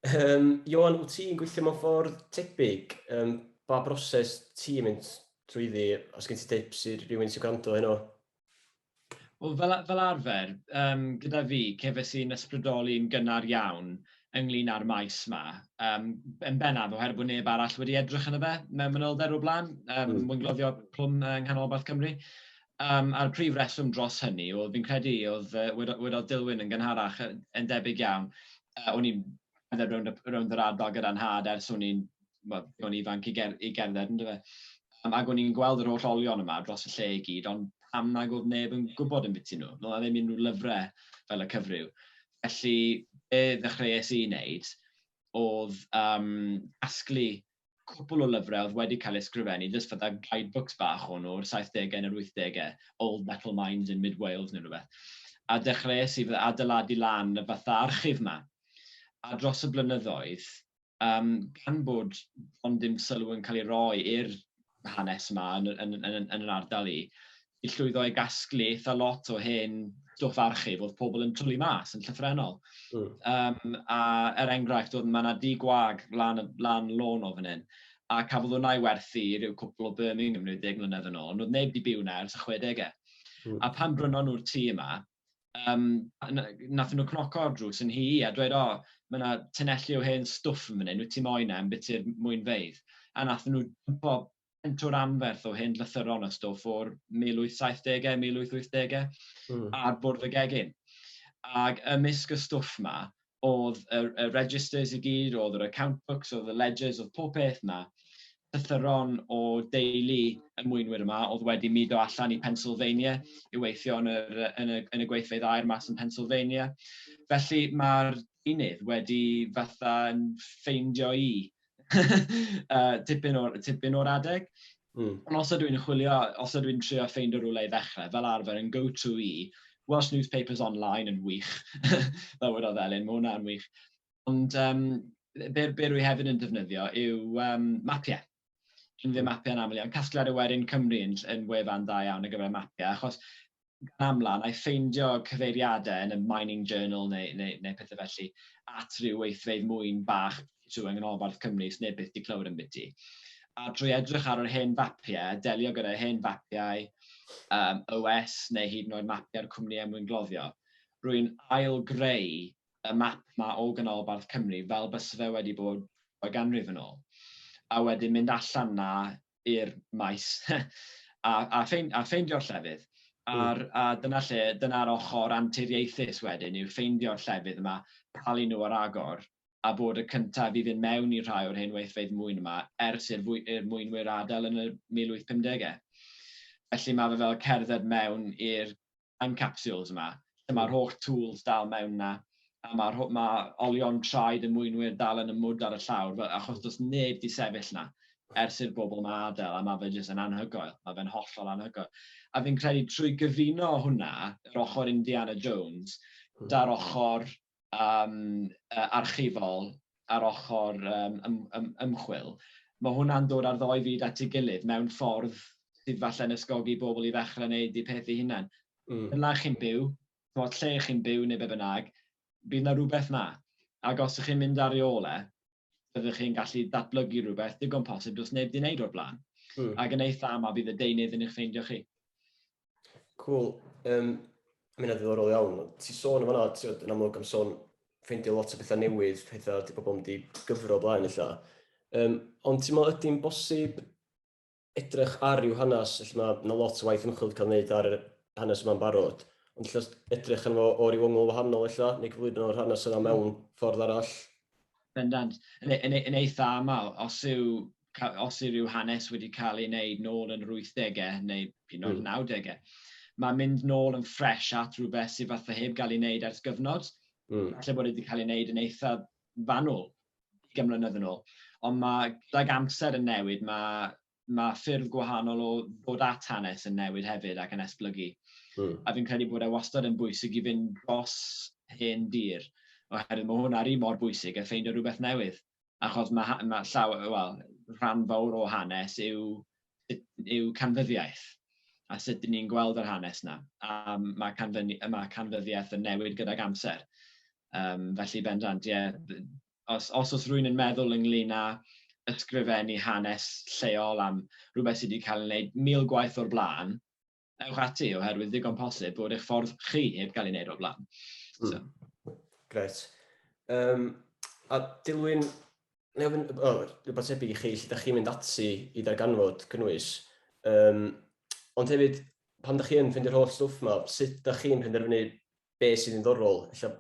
Um, Johan, wyt ti'n gweithio mewn ffordd tebyg? Um, ba broses ti'n mynd trwy ddi? Os gen ti tips i rhywun sy'n gwrando heno? Wel, fel, fel arfer, um, gyda fi, cefais i'n ysbrydoli'n gynnar iawn ynglyn â'r maes yma. Um, yn bennaf, oherwydd bod neb arall wedi edrych yn y fe mewn manylder o'r blaen, um, mm. mwyn gloddio plwm yng nghanolbarth Cymru. Um, a'r prif reswm dros hynny, oedd fi'n credu, oedd uh, wedodd Dilwyn yn gynharach yn debyg iawn, uh, o'n i'n rownd, rownd yr ardal gyda'n had ers o'n i'n wel, o'n ifanc i, ger, i gerdded yn dyfa. Um, ac o'n i'n gweld yr holl olion yma dros y lle i gyd, ond pam nag oedd neb yn gwybod yn biti nhw? Fel na ddim unrhyw lyfrau fel y cyfryw. Felly, be ddechreuais i wneud oedd um, asglu cwpl o lyfrau oedd wedi cael eu sgrifennu, just fydda guidebooks bach o'n nhw'r 70au neu'r 80au, Old Metal Mines in Mid Wales neu rhywbeth. A dechreuais i fydda adeiladu lan y fatha archif yma. A dros y blynyddoedd, um, gan bod ond dim sylw yn cael ei roi i'r hanes yma yn, yn, yn, yn, yn yr ardal i, i llwyddo i gasglu eitha lot o hen stwff archif oedd pobl yn twlu mas yn llyffrennol. Mm. Um, a er enghraifft, oedd mae yna di gwag lan, lan lôn o fan hyn, a cafodd hwnna i werthu i ryw cwpl o Birmingham 90 mlynedd yn ôl, ond oedd neb di byw na ers y 60au. Mm. A pan brynon nhw'r tŷ yma, Yym, wnaethon nhw cnoco ar drws yn nhŷ i a dweud, 'O, mae 'na tunnelli o hen stwff yn fan hyn, wyt ti moyn e, ambiti'r mwynfeydd? A wnaethon nhw dwmpo pentwr anferth o hen lythyron a stwff o'r 1870au, 1880au ar bwrdd y gegin. Ac ymysg y stwff 'ma, oedd y, y registers i gyd, oedd yr account books, oedd y ledgers, oedd pob peth yna. Cythyron o deulu y mwynwyr yma oedd wedi mudo allan i Pennsylvania i weithio yn, yr, yn, y, yn y gweithfeydd air mas yn Pennsylvania. Felly mae'r unydd wedi fatha ffeindio i tipyn o'r, tipyn o'r adeg. Mm. Ond os ydw i'n chwilio, os ydw i'n trio ffeind o rhywle i ddechrau, fel arfer yn go-to i, Welsh Newspapers Online yn wych, fel wedi oedd Elin, mae hwnna'n wych. Ond um, be, be rwy hefyd yn defnyddio yw um, mapiau. Dwi'n ddim mapiau yn aml iawn. Casgliad y wedyn Cymru yn, yn wefan da iawn ar gyfer mapiau, achos gan amla, wna i ffeindio cyfeiriadau yn y Mining Journal neu, neu, neu pethau felly at ryw weithfeydd mwyn bach trwy yng Nghanolbarth Cymru sneb byth di clywed ambiti. A drwy edrych ar yr hen fapiau, delio gyda'r hen fapiau um, OS neu hyd yn oed mapiau'r cwmnïau mwyn gloddio, rwy'n ail greu y map ma o Ganolbarth Cymru fel bys fe wedi bod o ganrif yn ôl. A wedyn mynd allan na i'r maes a a ffein- a ffeindio'r llefydd. Hmm. A'r a dyna lle, dyna'r ochr anturiaethus wedyn yw ffeindio'r llefydd yma, palu nhw ar agor, a bod y cyntaf i fynd mewn i rhai o'r hen weithfeydd mwyn yma ers i'r fwy- i'r mwynwyr adael yn y 1850au. Felly mae fe fel cerdded mewn i'r yn capsules yma, lle mae'r holl tools dal mewn yna, a mae'r ma olion traed y mwynwyr dal yn y mwd ar y llawr, achos does neb di sefyll yna ers i'r bobl yma adael, a mae fe jyst yn anhygoel, mae fe'n hollol anhygoel. A fi'n credu trwy gyfuno hwnna, yr ochr Indiana Jones, hmm. da'r ochr archifol a'r ochr ymchwil, mae hwnna'n dod â'r ddou fyd at ei gilydd mewn ffordd sydd falle'n ysgogi pobl i ddechrau wneud eu peth eu hunain. Yn lle chi'n byw, chimod, lle chi'n byw neu be bynnag, bydd yna rhywbeth yna. Ac os ydych chi'n mynd ar ei ôl e, byddwch chi'n gallu datblygu rhywbeth digon posib does neb 'di wneud o'r blaen. Ac yn eitha' aml bydd y deunydd yn eich ffeindio chi. Cool. Um, I mean, ddiddorol iawn. Ti sôn yn fanna, ti'n yn amlwg am sôn ffeindio lot o bethau newydd, pethau di pobl yn di gyfro blaen eitha. Um, ond ti'n meddwl ydy'n bosib edrych ar ryw hanes, felly mae yna lot o waith ymchwil cael wneud ar hanes yma'n barod, ond lle edrych yn fo o ryw ongl wahanol eitha, neu gyflwyno o'r hanes yna mewn ffordd arall? Bendant. Yn, e, yn, e, yn eitha aml, os yw os yw rhyw hanes wedi cael ei wneud nôl yn yr 80au neu hyd yn oed 90au, hmm. mae'n mynd nôl yn ffres at rhywbeth sydd fatha heb gael ei wneud ers gyfnod. Mm. Falle bod wedi cael ei wneud yn eitha fanwl gymlynedd yn ôl. Ond mae gydag amser yn newid, mae, mae ffyrdd gwahanol o ddod at hanes yn newid hefyd ac yn esblygu. Mm. A fi'n credu bod e wastad yn bwysig i fynd dros hen dir, oherwydd mae hwnna'r un mor bwysig a ffeindio rhywbeth newydd. achos mae ha- mae llaw- wel, rhan fawr o hanes yw yw canfyddiaeth a sut dyn ni'n gweld yr hanes yna. A mae, canfyni- mae canfyddiaeth yn newid gydag amser. Um, felly bendant, ie, os, os oes rwy'n yn meddwl ynglyn â ysgrifennu hanes lleol am rhywbeth sydd wedi cael ei wneud mil gwaith o'r blaen, ewch ati oherwydd ddigon posib bod eich ffordd chi heb gael ei wneud o'r blaen. Mm. So. Gret. Um, a Dilwyn, neu ofyn, o, rhywbeth tebyg i chi, lle da chi'n mynd ati i ddarganfod cynnwys. Um, ond hefyd, pan da chi'n ffeindio'r holl stwff yma, sut da chi'n penderfynu be sy'n ddiddorol, ella,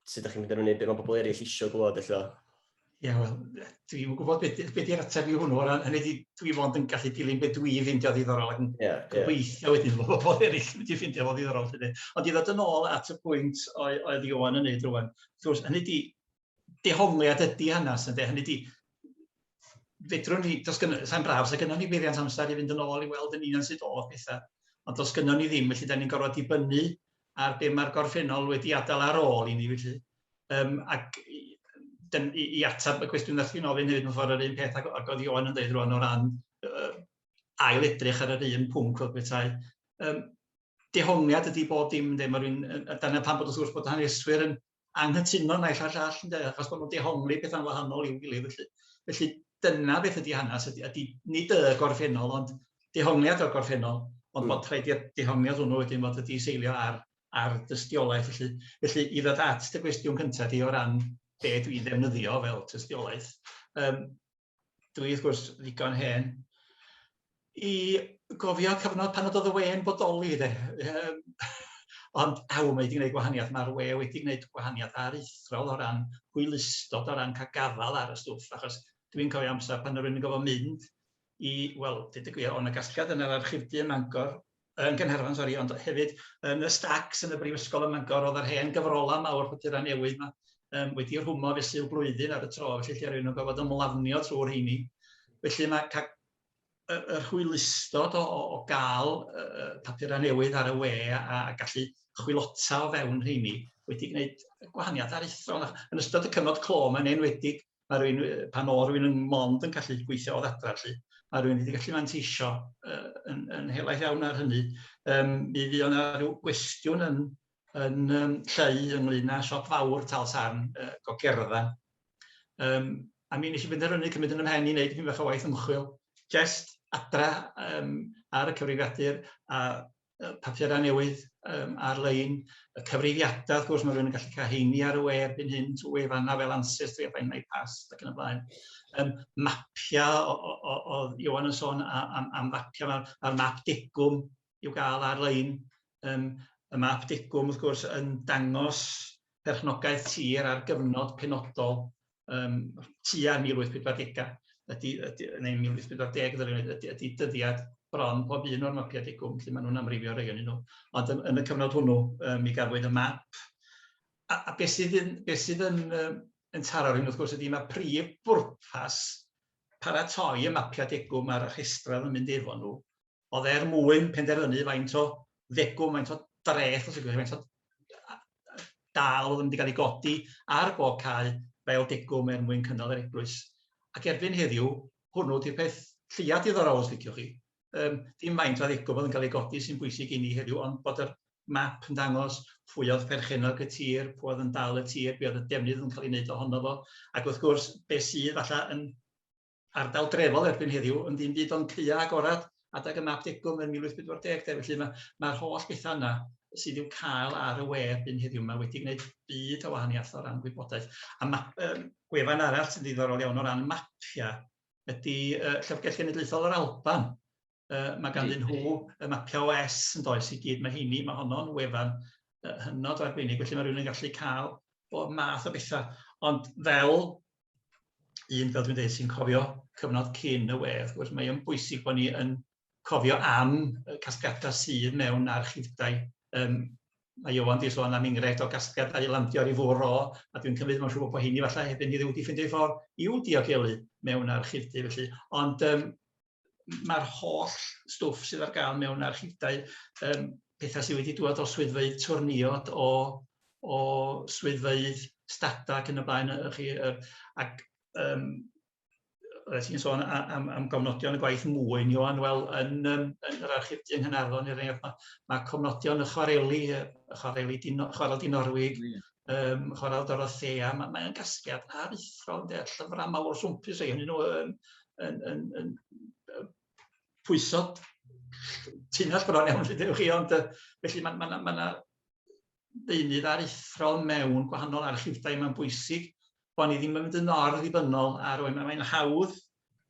sut ydych chi'n mynd i fyny, beth mae pobl eraill eisiau glywed, ella? Ie, yeah, wel, dwi'n gwybod beth be di'r ateb i hwnnw, ond hynny di, dwi fod yn gallu dilyn beth dwi ffeindio ddiddorol ac yn yeah, gobeithio yeah. wedyn bod pobl eraill yn mynd i ffeindio fo ddiddorol. Felly. Ond i ddod yn ôl at y pwynt oedd Iwan yn neud rwan, wrth gwrs, hynny di, dehongliad ydy hanes, ynde? Hynny di, fedrwn ni, dos gynnu, sa'n braf, sa'n gynnu ni beiriant amser i fynd yn ôl i weld yn union sydd oedd pethau, ond dos gynnu ni ddim, felly da ni'n gorfod dibynnu ar be mae'r gorffennol wedi adael ar ôl i ni, felly. Um, ac i, i, i atab y cwestiwn ddech chi'n ofyn hefyd, mae'n ffordd yr un peth ac, ac oedd Iwan yn dweud rwan o ran uh, ail edrych ar yr un pwnc oedd bethau. Um, dehongliad ydy bob dim, ynddo, mae rhywun, dyna pan bod wrth gwrs bod haneswyr yn, anghytuno naill a'r llall ynde achos bod nhw'n dehongli pethau'n wahanol i'w gilydd felly. Felly dyna beth ydy hanes ydy, ydy nid y gorffennol ond dehongliad o'r gorffennol ond mm. bod rhaid i'r dehongliad hwnnw wedyn fod wedi seilio ar, ar dystiolaeth felly. Felly i ddod at dy gwestiwn cyntaf di o ran be dwi'n ddefnyddio fel tystiolaeth, um, dwi wrth gwrs ddigon hen, i gofio cyfnod pan oedd y we'n bodoli de. Um, ond aw, mae wedi gwneud gwahaniaeth, mae'r we wedi gwneud gwahaniaeth aruthrol o ran hwylustod, o ran cael gafael ar y stwff, achos dwi'n cofio amser pan rwy'n gofio mynd i, wel, dyd y gwir, o'n y gasgliad yn yr archifdy yn Mangor, yn Gaernarfon sori ond hefyd yn y Stags yn y Brifysgol ym Mangor oedd yr hen gyfrolau mawr papurau newydd yma um, wedi rhwmo felly y blwyddyn ar y tro felly lle rwy'n gorfod ymlafnio trwy'r rheini. Felly mae cael yr, yr hwylustod o, o, o gael uh, papurau newydd ar y we a, a gallu chwilota o fewn rheini wedi gwneud gwahaniaeth aruthrol. Yn ystod y cyfnod clo mae'n enwedig mae rhywun, pan oedd rhywun yn mond yn gallu gweithio o ddadra, felly, mae rhywun wedi gallu manteisio uh, yn, yn helaeth iawn ar hynny. Um, mi fydd yna rhyw gwestiwn yn, yn um, lleu ynglyn â siop fawr tal sarn uh, gogerfa. Um, a mi nes i benderfynu cymryd yn ymhen i wneud pyn bach o waith ymchwil, jest adra um, ar y cyfrifiadur a papurau newydd um, ar-lein, y cyfrifiadau, wrth gwrs, mae rhywun yn gallu cael heini ar y we erbyn hyn, trwy wefannau fel ANSYS, trwy effaith neu pas, ac yn y blaen. Um, mapiau, oedd Iwan yn sôn am, am fapiau, mae'r ma map degwm i'w gael ar-lein. Um, y map degwm, wrth gwrs, yn dangos perchnogaeth tir ar gyfnod penodol um, tua 1840 ydy, ydy, neu 1840 ddylwn i, ydy, ydy dyddiad bron pob un o'r mapiau digwm, felly maen nhw'n amrifio rei o'n nhw. Ond yn, yn y cyfnod hwnnw, um, mi gafwyd y map. A, a beth sydd yn, be sydd yn, um, yn taro rhywun, wrth gwrs, ydy mae prif bwrpas paratoi y mapiau degwm a'r rhestrau yn mynd efo nhw oedd er mwyn penderfynu faint o ddegwm, faint o dreth, os ydych faint o dal oedd yn mynd i gael ei godi ar bob cae fel degwm er mwyn cynnal yr eglwys. Ac erbyn heddiw, hwnnw di'r peth lleiaf diddorol os licioch chi. Um, dim faint o ddegwm oedd yn cael ei godi sy'n bwysig i ni heddiw, ond bod yr map yn dangos pwy oedd perchenog y tir, pwy oedd yn dal y tir, be oedd y defnydd yn cael ei wneud ohono fo, ac wrth gwrs, be sydd falle yn ardal drefol erbyn heddiw, ond dim byd ond caeau agored adeg y map degwm yn 1840 de, felly mae mae'r holl bethau yna sydd i'w cael ar y we erbyn heddiw yma wedi gwneud byd o wahaniaeth o ran gwybodaeth. A ma, um, gwefan arall sy'n ddiddorol iawn o ran mapiau ydy uh, Llyfrgell Genedlaethol yr Alban. Uh, mae ganddyn nhw y mapiau OS yn does i gyd. Mae heini, mae honno'n wefan uh, hynod o arbennig, felly mae rhywun yn gallu cael bob math o bethau. Ond fel un, fel dwi'n dweud, sy'n cofio cyfnod cyn y we, wrth gwrs, mae o'n bwysig bod ni yn cofio am y casgliadau sydd mewn archifdau. Um, mae Iwan di sôn am enghraifft o gasgliadau i landio ar ei fwr o, a dwi'n cymryd mae'n siŵr bod hyn i falle hefyd ni wedi ffeindio ffordd i'w diogelu mewn archifdy felly. Ond um, mae'r holl stwff sydd ar gael mewn archifdau, um, pethau sydd wedi dŵad o swyddfeydd twrniod, o, o swyddfeydd stada ac yn y blaen, chi, er, ac um, roedd ti'n sôn am, am gofnodion y gwaith mwyn, Johan, wel, yn, um, yn yr archif di yng Nghynarfon, er enghraifft, mae, mae cofnodion y chwareli, y chwareli dino, chwarel dinorwig, yeah. ym Mhorthladdoedd Dorothea, ma' mae o'n gasgliad aruthrol ynde, llyfrau mawr swmpus o'u hynny nhw yn yn yn yn yy pwyso tunnell bron iawn lle chi, ond yy felly ma' ma' 'na ma' 'na ddeunydd aruthrol mewn gwahanol archifdai mae'n bwysig bod ni ddim yn mynd yn or ddibynnol ar oed, mae'n hawdd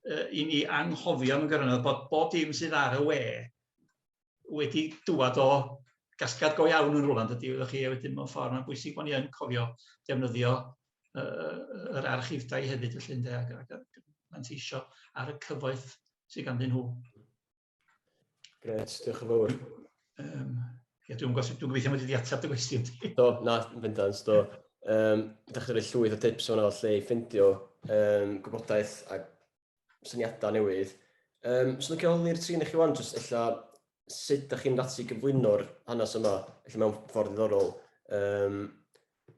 i ni anghofio mewn gwirionedd bod bob dim sydd ar y we wedi dŵad o gasgad go iawn yn rhywle, dydy, wyddoch chi, a wedyn mewn ffordd mae'n bwysig bod ni yn cofio defnyddio uh, yr archifdau hefyd, felly, ynde, ac, ac, ac manteisio ar y cyfoeth sydd ganddyn nhw. Gret, diolch yn fawr. Um, ia, dwi'n gwybod, dwi'n gobeithio mod wedi ateb dy gwestiwn. Do, na, fyndans, do. Um, da chi wedi llwyth o tips o'n allu i ffindio um, gwybodaeth a syniadau newydd. Um, so, dwi'n holi'r trin i chi wan, jyst illa sut ydych chi'n dati gyflwyno'r hanes yma, illa mewn ffordd ddiddorol. Um,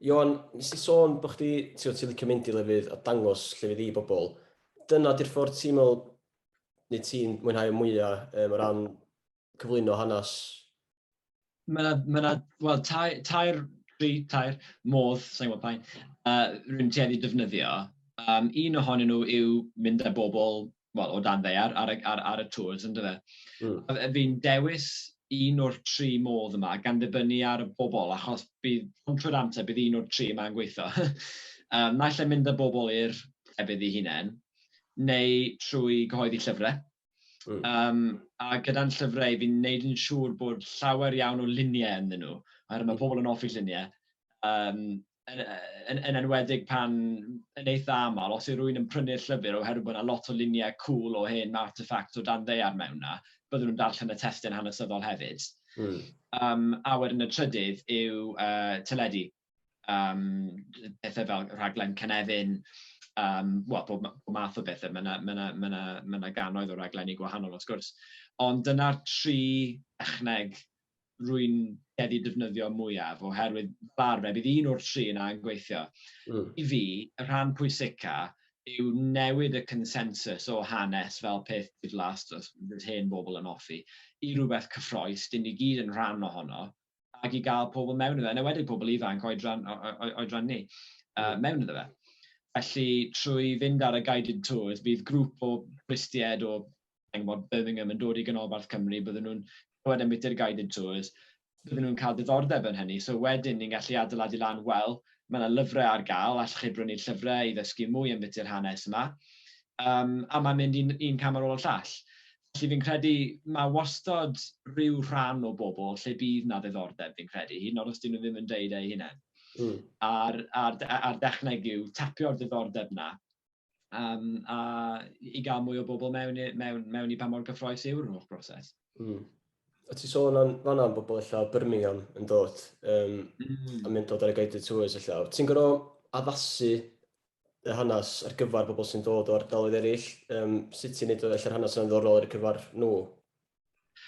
Iwan, nes i sôn bod chdi, ti'n ti licio mynd i lefydd a dangos llefydd i bobl. Dyna di'r ffordd ti'n meddwl, neu ti'n mwynhau mwyaf um, o ran cyflwyno hanes Mae yna, mae yna, wel, tair, tair, tri, tair, modd, sa'n gwybod pa'n, uh, rwy'n tueddu defnyddio. Um, un ohonyn nhw yw mynd â bobl, wel, o dan ddeiar ar, ar, ar y tŵrs, ynddo fe. Mm. Fi'n dewis un o'r tri modd yma, gan ddibynnu ar y bobl, achos bydd, ond trwy'r amser, bydd un o'r tri yma'n gweithio. um, naill e mynd â bobl i'r efydd i hunain, neu trwy gyhoeddi llyfrau, Mm. Um, a gyda'n llyfrau, fi'n neud yn siŵr bod llawer iawn o luniau ynddyn nhw, oherwydd mae pobl yn offi lluniau. Um, yn, yn, yn enwedig pan yn eitha aml, os yw rwy'n yn prynu'r llyfr oherwydd bod yna lot o luniau cool o hen artefacts o dan ddeiar mewn yna, byddwn nhw'n darllen y testyn hanesyddol hefyd. Mm. Um, a wedyn y trydydd yw uh, teledu. um, pethau fel rhaglen Cynefin, um, well, pob, pob math o bethau, mae yna ma na, ma na, ma na ganoedd o raglenni gwahanol wrth gwrs. Ond dyna'r tri echneg rwy'n wedi defnyddio mwyaf, oherwydd fel fe, bydd un o'r tri yna yn gweithio. Mm. I fi, y rhan pwysica yw newid y consensus o hanes fel peth diflas, dros hyn bobl yn offi, i rhywbeth cyffroes, dyn ni gyd yn rhan ohono, ac i gael pobl mewn iddo fe, yn enwedig pobl ifanc oedran, oedran ni, uh, mewn iddo fe. Felly, trwy fynd ar y guided tours, bydd grŵp o bristied o Engwod Birmingham yn dod i Ganolbarth Cymru, byddwn nhw'n clywed am bwyty'r guided tours, byddwn nhw'n cael diddordeb yn hynny. So wedyn ni'n gallu adeiladu lan, wel, mae yna lyfrau ar gael, allwch chi brynu'r llyfrau i ddysgu mwy am bwyty'r hanes yma. Um, a mae'n mynd un, un cam ar ôl y llall. Felly fi'n credu mae wastad rhyw rhan o bobl lle bydd na ddiddordeb fi'n credu, hyd yn oed os dyn nhw ddim yn deud eu hunain. Mm. A'r, ar, ar dechneg yw tapio'r ddiddordeb na, um, a i gael mwy o bobl mewn, mewn, mewn i pa mor gyffroes yw'r holl broses. Mm. A ti sôn am fanna am bobl allan o Birmingham yn dod um, mm. a mynd dod ar y guided tours allan. Ti'n gorau addasu y hanes ar gyfer pobl sy'n dod o ardaloedd eraill, um, sut ti'n neud o ella'r hanes yna'n ddorol ar y cyfer nhw?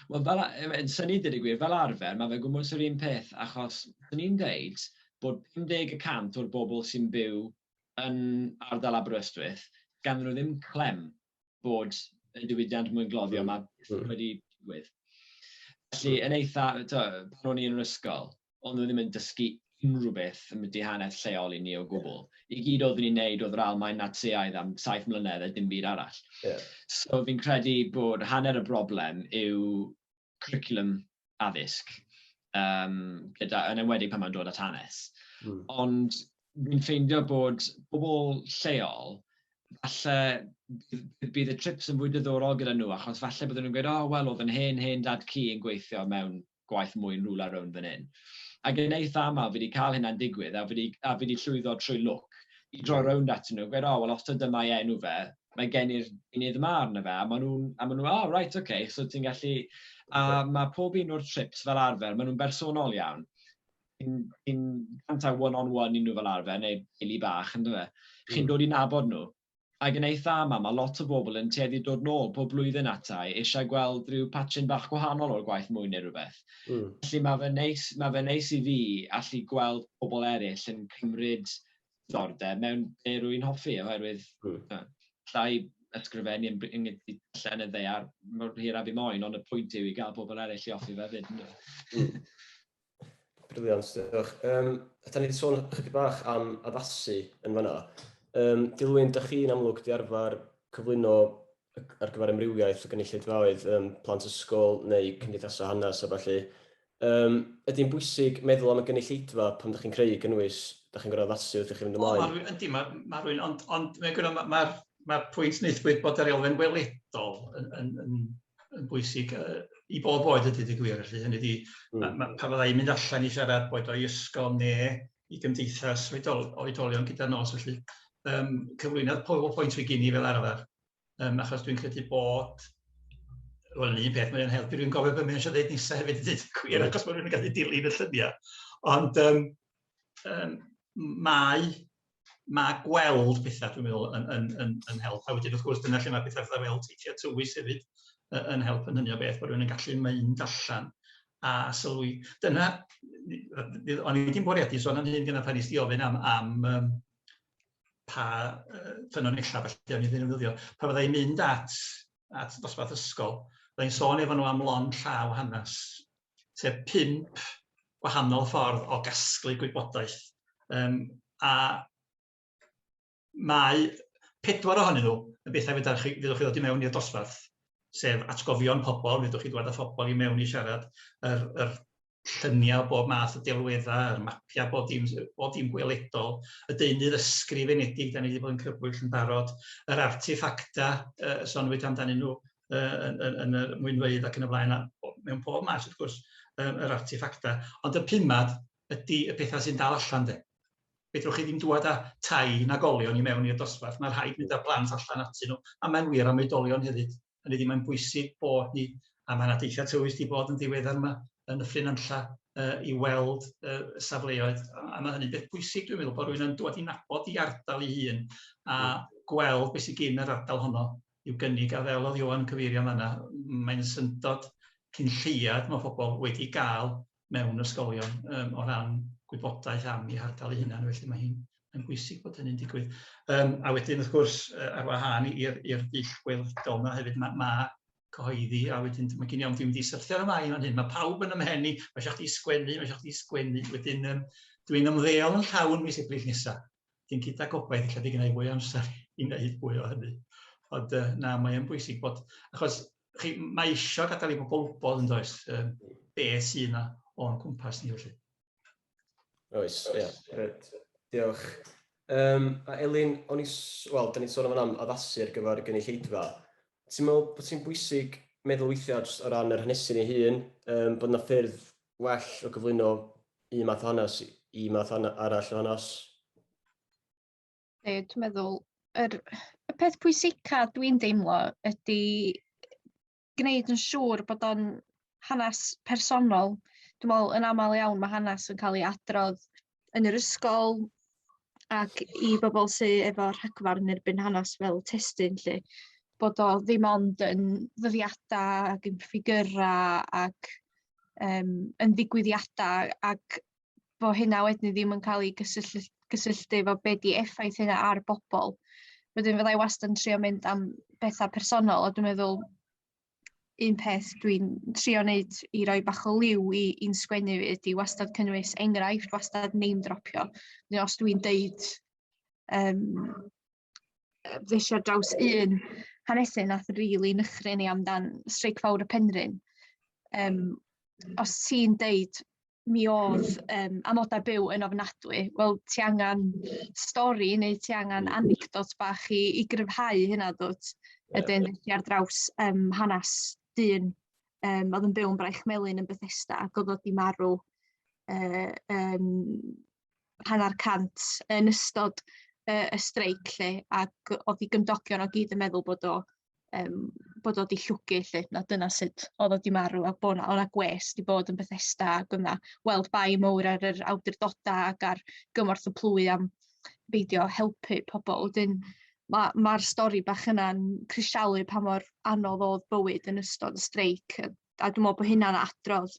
Wel, fel, yn syni dweud y gwir, fel arfer, mae fe'n gwmwys yr un peth, achos dyn ni'n dweud bod 50% o'r bobl sy'n byw yn ardal Aberystwyth, gan nhw ddim clem bod y diwydiant mwyn gloddio yma hmm. wedi digwydd. Felly, yn eitha, to, pan o'n i yn yr ysgol, ond nhw ddim yn dysgu unrhyw beth yn mynd i hanner lleol i ni o gwbl. I gyd oeddwn ni'n neud oedd yr Almain Natsiaidd am saith mlynedd a dim byd arall. Yeah. So fi'n credu bod hanner y broblem yw cwricwlwm addysg, um, gyda, yn enwedig pan mae'n dod at hanes. Mm. Ond dwi'n ffeindio bod pobl lleol, falle bydd y trips yn fwy diddorol gyda nhw, achos falle byddwn nhw'n gweud, oh, wel, oedd yn hen, hen dad ci yn gweithio mewn gwaith mwy yn rhywle ar rownd fan hyn. Ac yn eitha aml, fi wedi cael hynna'n digwydd, a fi wedi, a fi wedi llwyddo trwy lwc i droi rownd at nhw, gweud, oh, wel, os dyma mae enw fe, mae gen i'r unydd yma arno fe, a maen nhw'n, a maen nhw, oh, right, okay, so ti'n gallu, a mae pob un o'r trips fel arfer, maen nhw'n bersonol iawn. Ti'n cantau one-on-one i nhw fel arfer, neu ili bach, ynddo fe. Chi'n mm. dod i nabod nhw. A yn eitha yma, mae lot o bobl yn tueddu dod nôl pob blwyddyn atai eisiau gweld rhyw patchyn bach gwahanol o'r gwaith mwy neu rhywbeth. Mm. Felly mae fe, neis, mae fe neis i fi allu gweld pobl eraill yn cymryd ddiddordeb mewn be' rwy'n hoffi, oherwydd... Mm. ...yy allai ysgrifennu yn bri- yn gyd- i darllen y ddaear mor hir â fi moyn, ond y pwynt yw i gael pobl eraill i hoffi fe 'fyd, yndyw e? Mm. Briliant, diolch. Yym, da ni 'di sôn ychydig bach am addasu yn fan'na. Yym, Dilwyn, dach chi yn amlwg 'di arfer cyflwyno ar gyfer amrywiaeth o gynulleidfaoedd, um, plant ysgol neu cymdeithasau hanes a falle. Um, ydy'n bwysig meddwl am y gynulleidfa pan ydych chi'n creu gynnwys, ydych chi'n gorau addasu wrth i chi fynd ymlaen? O, mae ydy, mae, ma rwy'n, ond, ond mae'n gwneud, mae'r ma, ma pwynt neithwyd bod yr elfen weledol yn, yn, yn, yn bwysig uh, i bob oed ydy dy gwir, felly hynny ydy, mm. mae, ma, pa fyddai'n mynd allan i siarad boed o'i ysgol neu i gymdeithas oedol, oedolion gyda nos, felly um, cyflwynodd PowerPoint fi gini fel arfer, um, achos dwi'n credu bod Wel, yn un peth, mae'n helpu rwy'n gofio beth mae'n eisiau dweud nesaf hefyd i ddweud cwyr, achos mae'n rhywun yn gallu dilyn y lluniau. Ond um, um, mae, mae gweld pethau, dwi'n meddwl, yn, yn, yn, yn help. A wedyn, wrth gwrs, dyna lle mae pethau fel teithiau tywys hefyd yn help yn hynny o beth, bod rhywun yn gallu mynd allan a sylwi. Dyna, o'n i wedi'n bwriadu sôn am hyn gyda pan nes di ofyn am, am um, pa uh, ffynonellau felly o'n i'n ddefnyddio. Pa fyddai mynd at, at dosbarth ysgol, byddai'n sôn efo nhw am lon llaw hanes, sef pimp gwahanol ffordd o gasglu gwybodaeth. Um, a mae pedwar ohonyn nhw yn bethau fydda chi, fyddwch chi ddod i mewn i'r dosbarth, sef atgofion pobl, fyddwch chi ddod â phobl i mewn i siarad, yr, yr lluniau o bob math o delweddau, yr mapiau bod dim, bod dim gweledol, y deunydd ysgrifenedig, da ni wedi bod yn crybwyll yn barod, yr artefacta, uh, sonwyd amdanyn nhw uh, yn, yn, yn y mwynfeydd ac yn y blaen, a mewn pob maes wrth gwrs, um, yr artefacta. Ond y pumad ydy y pethau sy'n dal allan de. fedrwch chi ddim dŵad â tai nag olion i mewn i'r dosbarth, mae rhaid mynd â plant allan atyn nhw, a mae'n wir am oedolion hefyd. Hynny ydi, mae'n bwysig bod ni, a mae yna deithiau tywyll wedi bod yn ddiweddar yma yn y Fflin Anlla uh, i weld uh, safleoedd, a, a mae hynny'n beth bwysig dwi'n meddwl, bod rhywun yn dod i nabod i ardal ei hun a hmm. gweld beth sy'n gyn yr ardal honno i'w gynnig, a fel oedd Iwan yn cyfeirio yma, mae'n syndod cyn lleiad mae pobl wedi gael mewn ysgolion um, o ran gwybodaeth am ei hardal ei hunan, felly mae hi'n yn bwysig bod hynny'n digwydd. Um, a wedyn, wrth gwrs, ar wahân i'r dull gweledol yna hefyd, mae ma cyhoeddi, a wedyn mae gen i am ddim wedi syrthio ar y mae fan hyn. Mae pawb yn ymhen i, mae eisiau chdi sgwennu, mae eisiau chdi sgwennu. Wedyn, um, dwi'n ymddeol yn llawn mis Ebrill nesaf. Dwi'n cyd â gobaith, lle di gynnau fwy o amser i wneud fwy o hynny. Ond uh, na, mae'n bwysig bod, achos chi, mae eisiau gadael i bobl wybod yn does, um, be sy'n yna o'n cwmpas ni felly. Oes, ie, yeah, gred. Diolch. Um, a Elin, o'n i, wel, da ni'n sôn am addasu ar gyfer gynulleidfa. Ti'n meddwl bod ti'n bwysig meddwl weithiau jyst o ran yr hanesu ni hun, um, bod yna ffyrdd well o gyflwyno un math o hanes i math arall o hanes? Dwi'n meddwl, yr, y peth pwysica dwi'n deimlo ydy gwneud yn siŵr bod o'n hanes personol. Dwi'n meddwl, yn aml iawn, mae hanes yn cael ei adrodd yn yr ysgol ac i bobl sydd efo rhagfarn yn erbyn hanes fel testyn lle, bod o ddim ond yn ddyddiadau ac yn ffigurau ac um, yn ddigwyddiadau ac bo hynna wedyn ddim yn cael ei gysylltu, gysylltu efo be di effaith hynna ar bobl. Wedyn fydda i wastad yn trio mynd am bethau personol a dwi'n meddwl un peth dwi'n trio wneud i roi bach o liw i'n sgwennu fi ydy wastad cynnwys enghraifft, wastad name dropio. Neu os dwi'n deud um, ddes ar draws un hanesyn nath rili really nychrin i amdan Streic Fawr y Penrhyn, um, os ti'n deud mi oedd um, amodau byw yn ofnadwy. Wel, ti angen stori neu ti angen anecdot bach i, i gryfhau hynna dwt. Yeah. Ydyn, ti ar draws um, hanes dyn um, oedd yn byw yn Braich Melin yn Bethesda ac oedd oedd di marw uh, um, hanner cant yn ystod y, y streic lle, ac oedd i gymdogion o gyd yn meddwl bod o, um, bod o di llwgu lle, na dyna sut oedd o di marw, a bod o'na gwes di bod yn Bethesda, ac o'na weld bai mowr ar yr awdurdodau ac ar gymorth y plwy am beidio helpu pobl. Wedyn, mae'r ma, ma stori bach yna'n crisialu pa mor anodd oedd bywyd yn ystod y streic, a dwi'n meddwl bod hynna'n adrodd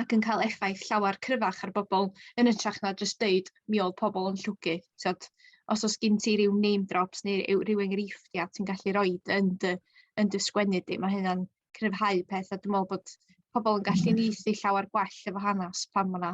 ac yn cael effaith llawer cryfach ar bobl yn ytrach na jyst deud mi oedd pobl yn llwgu. Tiod, os oes gen ti rhyw name drops neu rhyw enghreifftiau ti'n gallu rhoi yn dy, yn dy sgwennu di, mae hynna'n cryfhau peth a dwi'n meddwl bod pobl yn gallu mm. neithu llawer gwell efo hanes pan mae yna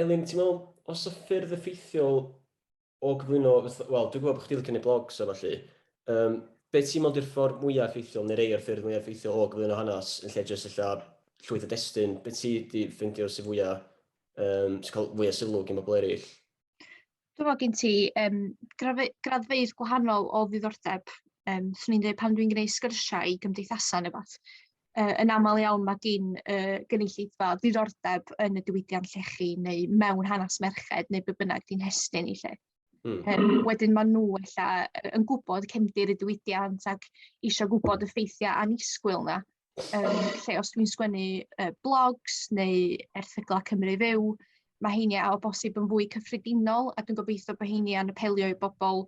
Elin, ti'n meddwl, os y ffyrdd effeithiol o gyflwyno, wel, dwi'n gwybod bod chdi'n licio gwneud blogs a falle, um, be ti'n meddwl di'r ffordd mwyaf effeithiol, neu rei o'r ffyrdd mwyaf effeithiol o gyflwyno hanes, yn lle jyst illa llwyth o destyn, be ti wedi ffeindio sy'n fwyaf, um, sy'n cael fwyaf sylw gen bobl eraill? Dwi'n meddwl gen ti um, graddfeydd gwahanol o ddiddordeb. Um, swn i'n dweud pan dwi'n gwneud sgyrsiau i gymdeithasau neu beth, uh, yn aml iawn mae gen uh, gynulleidfa ddiddordeb yn y diwydiant llechi neu mewn hanes merched neu be bynnag di'n hestyn i lle. Mm. Um, wedyn maen nhw ella yn gwybod cefndir y diwydiant ac eisiau gwybod y ffeithiau anisgwyl yna. um, lle os dwi'n sgwennu uh, blogs neu erthyglau Cymru Fyw, mae heini o bosib yn fwy cyffredinol a dwi'n gobeithio bod heini yn apelio i bobl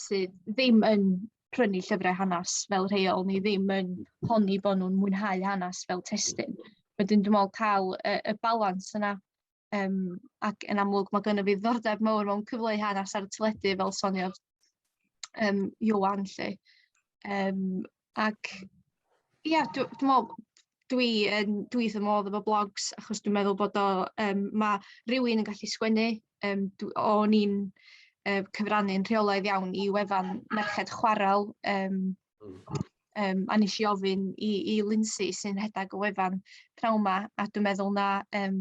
sydd ddim yn prynu llyfrau hanes fel rheol neu ddim yn honni bod nhw'n mwynhau hanes fel testyn. Wedyn dwi'n meddwl cael y, y balans yna Um, ac yn amlwg mae gynnu fi ddordeb mawr mewn cyfleu hanes ar y teledu fel soniodd um, Iwan lle. Um, ac ie, yeah, dwi'n dwi meddwl dwi yn dwi ddim modd efo blogs achos dwi'n meddwl bod o um, mae rhywun yn gallu sgwennu um, o'n i'n um, cyfrannu'n rheolaidd iawn i wefan merched chwarel um, Um, a nes i ofyn i, i Lindsay sy'n rhedeg y wefan pnawn ma, a dwi'n meddwl na um,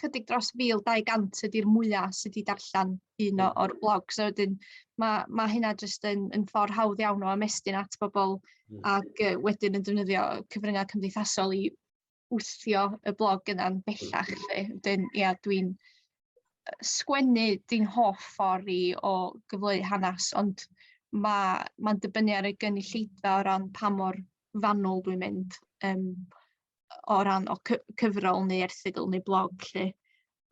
chydig dros 1200 ydy'r mwyaf sydd wedi darllen un hmm. o'r blog. So wedyn, mae, ma hynna jyst yn, yn ffordd hawdd iawn o amestyn at bobl mm. ac uh, wedyn yn defnyddio cyfryngau cymdeithasol i wthio y blog yna'n bellach lle. Wedyn, ia, dwi'n sgwennu di'n hoff ffordd i o gyfleu hanes, ond mae'n ma dibynnu ar y gynulleidfa o ran pa mor fanwl dwi'n mynd um, o ran o cyfrol neu erthigol neu blog lle.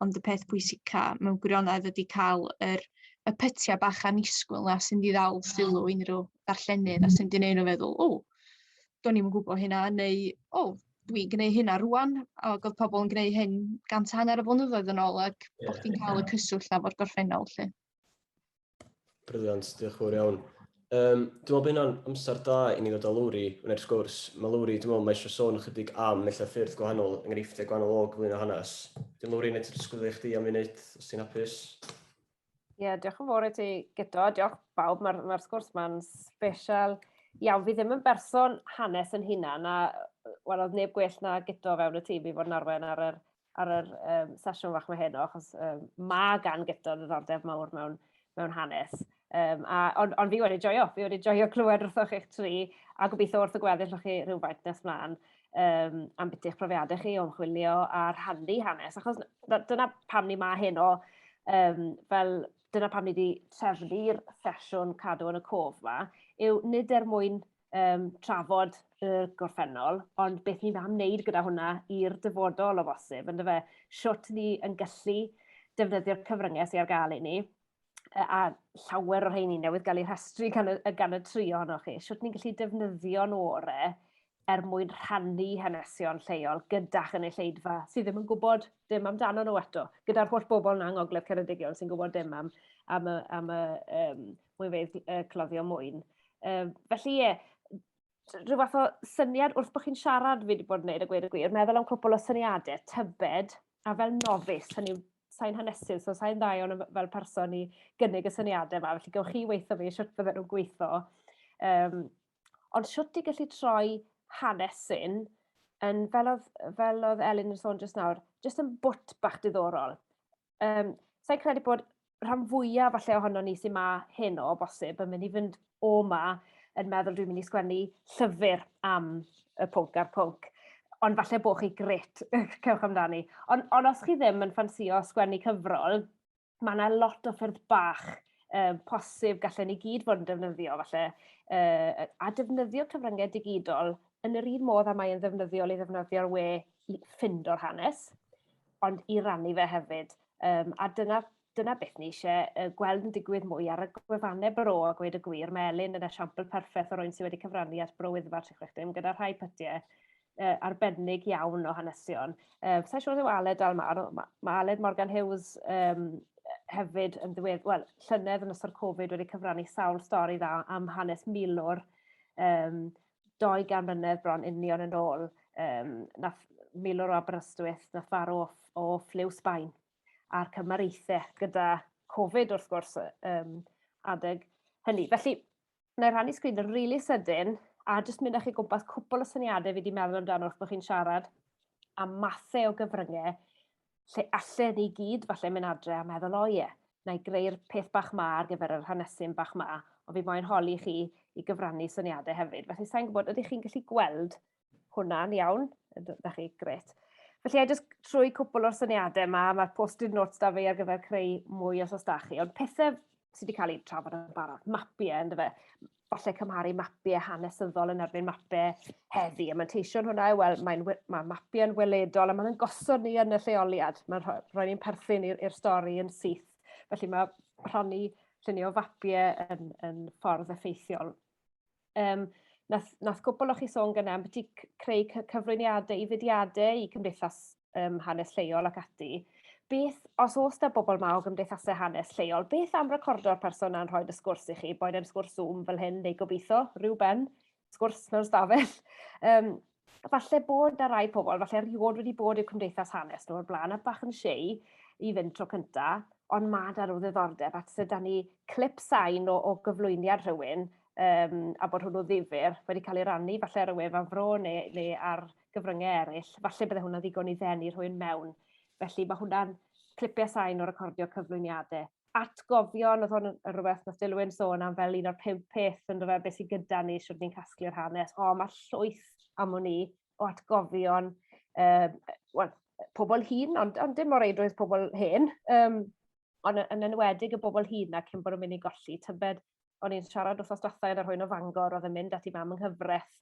ond y peth pwysica mewn gwirionedd ydy cael yr, y pytiau bach anisgwyl na sy'n di ddal sylw unrhyw darllenydd a sy'n di neud nhw feddwl, o, do'n i'n gwybod hynna, neu, o, dwi'n gwneud hynna rwan, a oedd pobl yn gwneud hyn gant a hanner o flynyddoedd yn ôl, ac yeah. bod chdi'n cael y cyswllt na fo'r gorffennol lle. Brilliant, diolch yn fawr iawn. Um, dwi'n meddwl bod hynna'n amser da i ni ddod â Lowri wneud sgwrs. Mae Lowri, dwi'n meddwl, mae eisiau sôn ychydig am mellau ffyrdd gwahanol, enghreifftiau gwahanol o gyflwyno hanes. Dwi'n Lowri, neu ti'n sgwylio i chdi am funud, os ti'n hapus? Ie, yeah, diolch yn fawr i ti gyda, diolch bawb, mae'r ma sgwrs ma'n special iawn. Fi ddim yn berson hanes yn hunan, a wel, oedd neb gwell na gyda fewn y tîm i fod yn arwen ar yr ar yr um, sesiwn fach mae heno, achos um, mae gan gyda'r ddiddordeb mawr mewn, mewn hanes. Um, a, ond, on fi wedi joio, fi wedi joio clywed wrthoch eich tri, a gobeithio wrth y gweddill o'ch chi rhywfaint nes mlaen um, am beth eich profiadau chi o'n chwilio a rhannu hanes. Achos dyna pam ni ma heno, um, fel dyna pam ni wedi trefnu'r sesiwn cadw yn y cof yma, yw nid er mwyn um, trafod y gorffennol, ond beth ni'n am wneud gyda hwnna i'r dyfodol o bosib, ynddo fe, siwt ni yn gallu defnyddio'r cyfryngau sy'n ar gael i ni, a llawer o'r rheini newydd gael ei rhestru gan y, gan y tri ohonoch chi, siwt ni'n gallu defnyddio'n ore er mwyn rhannu hanesion lleol gyda chynulleidfa sydd ddim yn gwybod dim amdano nhw eto, gyda'r holl bobl yna yng Ngogledd Ceredigion sy'n gwybod dim am, am, y, am y um, mwy fedd uh, cloddio mwyn. Um, felly ie, yeah, rhyw fath o syniad wrth bod chi'n siarad fi wedi bod yn gwneud y gwir y gwir, meddwl am cwpl o syniadau, tybed, a fel nofus, hynny sain hanesydd, so sain dda iawn fel person i gynnig y syniadau yma, felly gywch chi weithio fi, siwt fydden nhw'n gweithio. Um, ond siwt i gallu troi hanesyn yn fel oedd, fel oedd Elin yn sôn jyst nawr, jyst yn bwt bach diddorol. um, sa'n credu bod rhan fwyaf falle ohono ni sy'n ma hyn o bosib yn mynd i fynd o ma yn meddwl dwi'n mynd i sgwennu llyfr am y pwnc a'r pwnc. Ond falle bod chi gret, cewch amdani. Ond, on os chi ddim yn ffansio sgwennu cyfrol, mae yna lot o ffyrdd bach um, posib gallen ni gyd fod yn defnyddio falle, uh, a defnyddio cyfryngau digidol yn yr un modd a mae'n ddefnyddiol i ddefnyddio'r we i ffindo'r hanes. ond i rannu fe hefyd. Um, a dyna, dyna beth ni eisiau uh, gweld yn digwydd mwy ar y gwefannau bro a gweud y gwir. Mae Elin yn esiampl perffaith o rwy'n sydd wedi cyfrannu at bro Wyddfa 360 gyda rhai pytiau uh, arbennig iawn o hanesion. Uh, Sa'n siŵr yw Aled Almar, mae ma Aled Morgan Hughes um, hefyd yn ddiwedd, wel, llynedd yn ystod Covid wedi cyfrannu sawl stori dda am hanes milwr um, dou gan mlynedd bron union yn ôl yym nath milwr o Aberystwyth nath farw o, o ffliw Sbaen a'r cymariaethe gyda Covid wrth gwrs um, adeg hynny. Felly, na i rannu sgrin yn rili really sydyn a jyst mynd â chi gwmpas cwpl o syniadau fi wedi meddwl amdano wrth bod chi'n siarad a mathau o gyfryngau lle allen ni gyd falle mynd adre a meddwl o ie, na i greu'r peth bach ma ar gyfer yr hanesyn bach ma, ond fi moyn holi chi i gyfrannu syniadau hefyd. Felly sa'n gwybod, ydych chi'n gallu gweld hwnna'n iawn? Ydych chi, gret. Felly, a jyst trwy cwpl o'r syniadau yma, mae'r post-it notes da fi ar gyfer creu mwy os os da chi, ond pethau sydd wedi cael eu trafod yn barod, mapiau, ynddo fe. falle cymharu mapiau hanesyddol yn erbyn mapiau heddi. A manteision hwnna yw, wel, mae'n mae mapiau yn weledol a mae'n gosod ni yn y lleoliad. Mae'n rhoi, rhoi ni'n perthyn i'r stori yn syth. Felly mae rhoni llunio fapiau yn, yn ffordd effeithiol. Um, nath, nath gwbl o'ch chi sôn gyda am beth i creu cyflwyniadau i fudiadau, i cymdeithas um, hanes lleol ac ati, beth, os oes da bobl ma o gymdeithasau hanes lleol, beth am recordo'r person a'n rhoi'r sgwrs i chi, boed e'n sgwrs Zoom fel hyn, neu gobeithio, rhyw ben, sgwrs mewn stafell. Um, falle bod na rai pobl, falle erioed wedi bod i'r cymdeithas hanes nhw o'r blaen, a bach yn siei i fynd tro cynta, ond mae da nhw ddiddordeb, a sydd da ni clip sain o, o gyflwyniad rhywun, um, a bod hwnnw ddifur, wedi cael ei rannu falle rhywun fan fro neu, neu ar gyfryngau eraill, falle bydde hwnna'n ddigon i ddenu rhywun mewn. Felly mae hwnna'n clipiau sain o recordio cyflwyniadau. Atgofion, oedd hwn yn rhywbeth nath Dilwyn sôn am fel un o'r pimp peth yn rhywbeth beth sy'n gyda ni, sydd ni'n casglu'r hanes. O, mae llwyth am o'n i o atgofion, um, well, pobl hun, ond, ond dim o reidrwydd pobl hen, um, ond yn enwedig y bobl hun na cyn bod yn mynd i golli tybed o'n i'n siarad wrthos dwetha yn yr hwyn o Fangor oedd yn mynd at i mam yng nghyfraith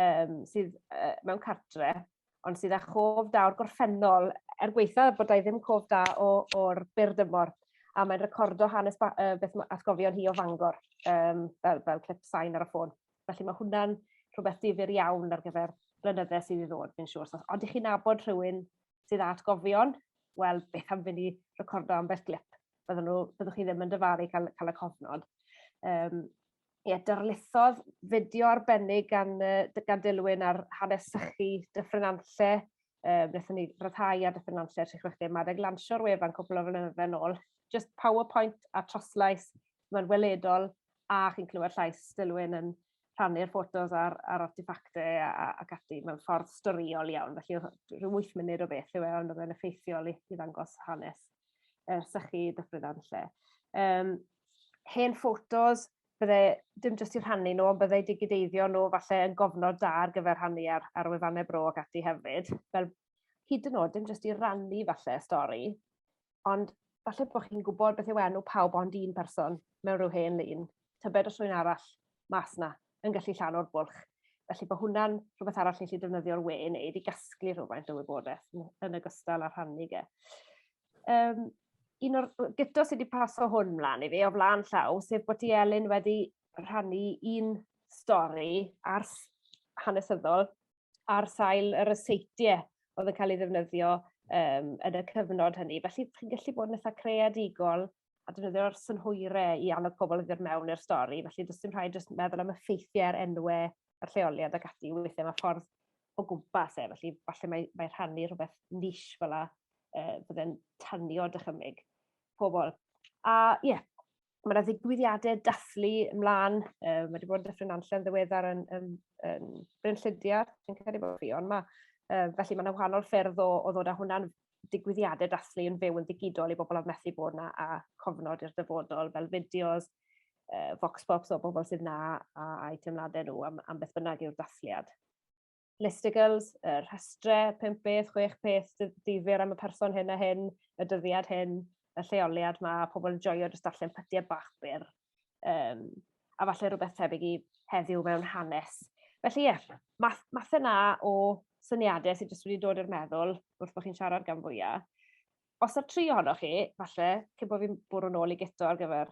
um, sydd uh, mewn cartre, ond sydd â chof da o'r gorffennol, er gweitha bod ei ddim cof da o'r byr dymor, a mae'n recordo hanes ba, uh, beth mae atgofion hi o Fangor, um, fel, fel clip sain ar y ffôn. Felly mae hwnna'n rhywbeth difyr iawn ar gyfer blynydde sydd i ddod, fi'n siŵr. So, ond i chi nabod rhywun sydd â atgofion, wel, beth am fynd i recordo ambell glip? Byddwn nhw, byddwch chi ddim yn dyfalu cael, cael y cofnod. Um, ie, darlithodd fideo arbennig gan, gan Dilwyn ar hanes sychu Dyffryn Anlle. Um, Nethon ni rhyddhau ar Dyffryn Anlle 360 Madeg lansio'r wefan cwpl o flynyddoedd yn ôl. Just PowerPoint a troslais, mae'n weledol a chi'n clywed llais Dilwyn yn rhannu'r ffotos a'r a'r arteffacte a a ac ati mewn ffordd storïol iawn felly o'dd o rhyw wyth munud o beth yw e ond o'dd e'n effeithiol i i ddangos hanes yy sychu Dyffryn Nantlle. Yym hen ffotos bydde dim jyst i rhannu nhw ond bydde digideiddio nhw falle yn gofnod da ar gyfer rhannu ar ar wefane Bro ac ati hefyd fel hyd yn o'd dim jyst i rannu falle stori ond falle bod chi'n gwybod beth yw enw pawb ond un person mewn rhyw hen lun, tybed os rwy'n arall mas na yn gallu llan o'r bwlch. Felly bod hwnna'n rhywbeth arall ni'n gallu defnyddio'r we i wneud i gasglu rhywfaint o wybodaeth yn ogystal â rhannu ge. Um, un o'r gyto sydd wedi paso hwn mlaen i fi o flaen llaw, sef bod ti Elin wedi rhannu un stori ar hanesyddol ar sail y ryseitiau oedd yn cael ei ddefnyddio um, yn y cyfnod hynny. Felly, chi'n gallu bod yn eitha creadigol a defnyddio'r synhwyrau i annog pobl i ddod mewn i'r stori. Felly, does dim rhaid jyst meddwl am effeithiau ar enwau a'r lleoliad ac ati. Weithiau mae ffordd o gwmpas e, felly falle mae, mae rhannu rhywbeth nis fel la, uh, bydde'n tanio dychymyg pobl. A ie, yeah, mae yna ddigwyddiadau dathlu ymlaen, uh, mae wedi bod yn Dyffryn Nanllen ddiweddar yn, yn, yn Bryn Llydiar, dwi'n credu bod fi, ond mae, uh, felly mae yna wahanol ffyrdd o, o ddod â hwnna'n digwyddiadau dathlu yn fyw yn ddigidol i bobl oedd methu bod yna a cofnod i'r dyfodol fel fideos, uh, vox pops o bobl sydd na a, a'i teimladau nhw am, am beth bynnag yw'r dathliad. listigles, y rhestrau, pimp beth, chwech peth, ddifyr am y person hyn a hyn, y dyddiad hyn, y lleoliad ma, pobl yn joio jyst darllen pytiau bach byr. Um, a falle rhywbeth tebyg i heddiw mewn hanes. Felly ie, yeah, math, math yna o syniadau sydd jyst wedi dod i'r meddwl wrth bod chi'n siarad gan fwyaf. Os yw tri ohonoch chi, falle, cyn bod fi'n bwrw'n ôl i gyto ar gyfer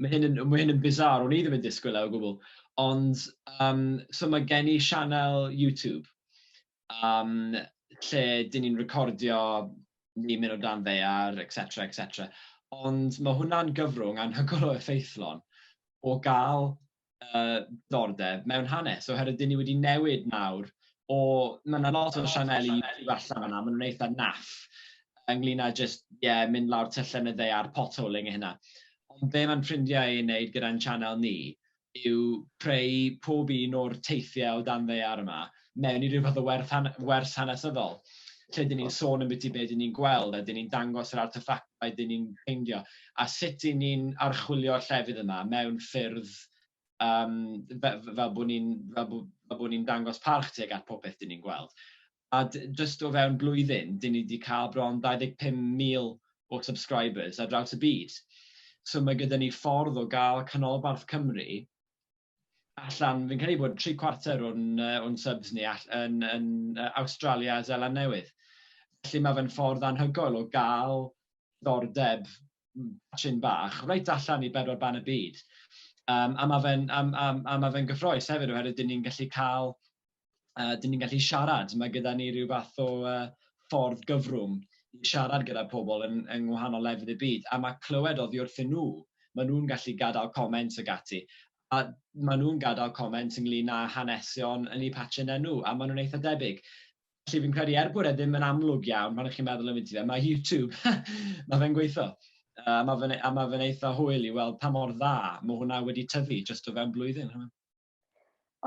Mae hyn yn, mae hyn yn bizarre, o'n i ddim yn disgwyl e o gwbl. Ond, um, so mae gen i sianel YouTube, um, lle dyn ni'n recordio ni mynd o dan ddear, etc, etc. Ond mae hwnna'n gyfrwng anhygoel o effeithlon o gael diddordeb mewn hanes, oherwydd dyn ni wedi newid nawr o... Mae yna lot o sianeli YouTube allan fanna, maen nhw'n eitha naff ynglyn â jyst, ie, mynd lawr tyllau yn y ddaear, potholing a hynna. Ond be mae'n ffrindiau i'n wneud gyda'n sianel ni yw creu pob un o'r teithiau o dan ddaear yma, mewn i ryw fath o werth han- wers hanesyddol, lle 'dyn ni'n sôn ambiti be' 'dyn ni'n gweld, a 'dyn ni'n dangos yr arteffactau 'dyn ni'n ffeindio, a sut 'yn ni'n archwilio'r llefydd yma mewn ffyrdd um, fe- fe- fel bod ni'n fel bo- fel bod ni'n dangos parch tuag at popeth 'dyn ni'n gweld. A d- jyst o fewn blwyddyn, 'dyn ni wedi cael bron 25,000 o subscribers ar draws y byd. So mae gyda ni ffordd o gael canolbarth Cymru allan, fi'n credu bod tri cwarter o'n, uh, o'n subs ni all, yn, yn uh, Australia a Zeland Newydd. Felly mae fe'n ffordd anhygoel o gael ddordeb sy'n bach, reit allan i bedwar ban y byd. Um, a mae fe'n um, um, ma fe gyffroes hefyd oherwydd dyn ni'n gallu cael a dyn ni'n gallu siarad. Mae gyda ni rhyw fath o uh, ffordd gyfrwng i siarad gyda pobl yn, yng ngwahanol lefydd y byd, a mae clywed oddi wrthyn nhw, maen nhw'n gallu gadael comment ag ati. A maen nhw'n gadael comment ynglyn â hanesion, yn ei patchyn enw, a maen nhw'n eitha debyg. Felly fi'n credu, er bod e ddim yn amlwg iawn pan ych chi'n meddwl yn fynd i fe, mae YouTube, mae fe'n gweithio. A mae fe'n e- a mae fe'n eitha hwyl i weld pa mor dda mae hwnna wedi tyfu jyst o fewn blwyddyn.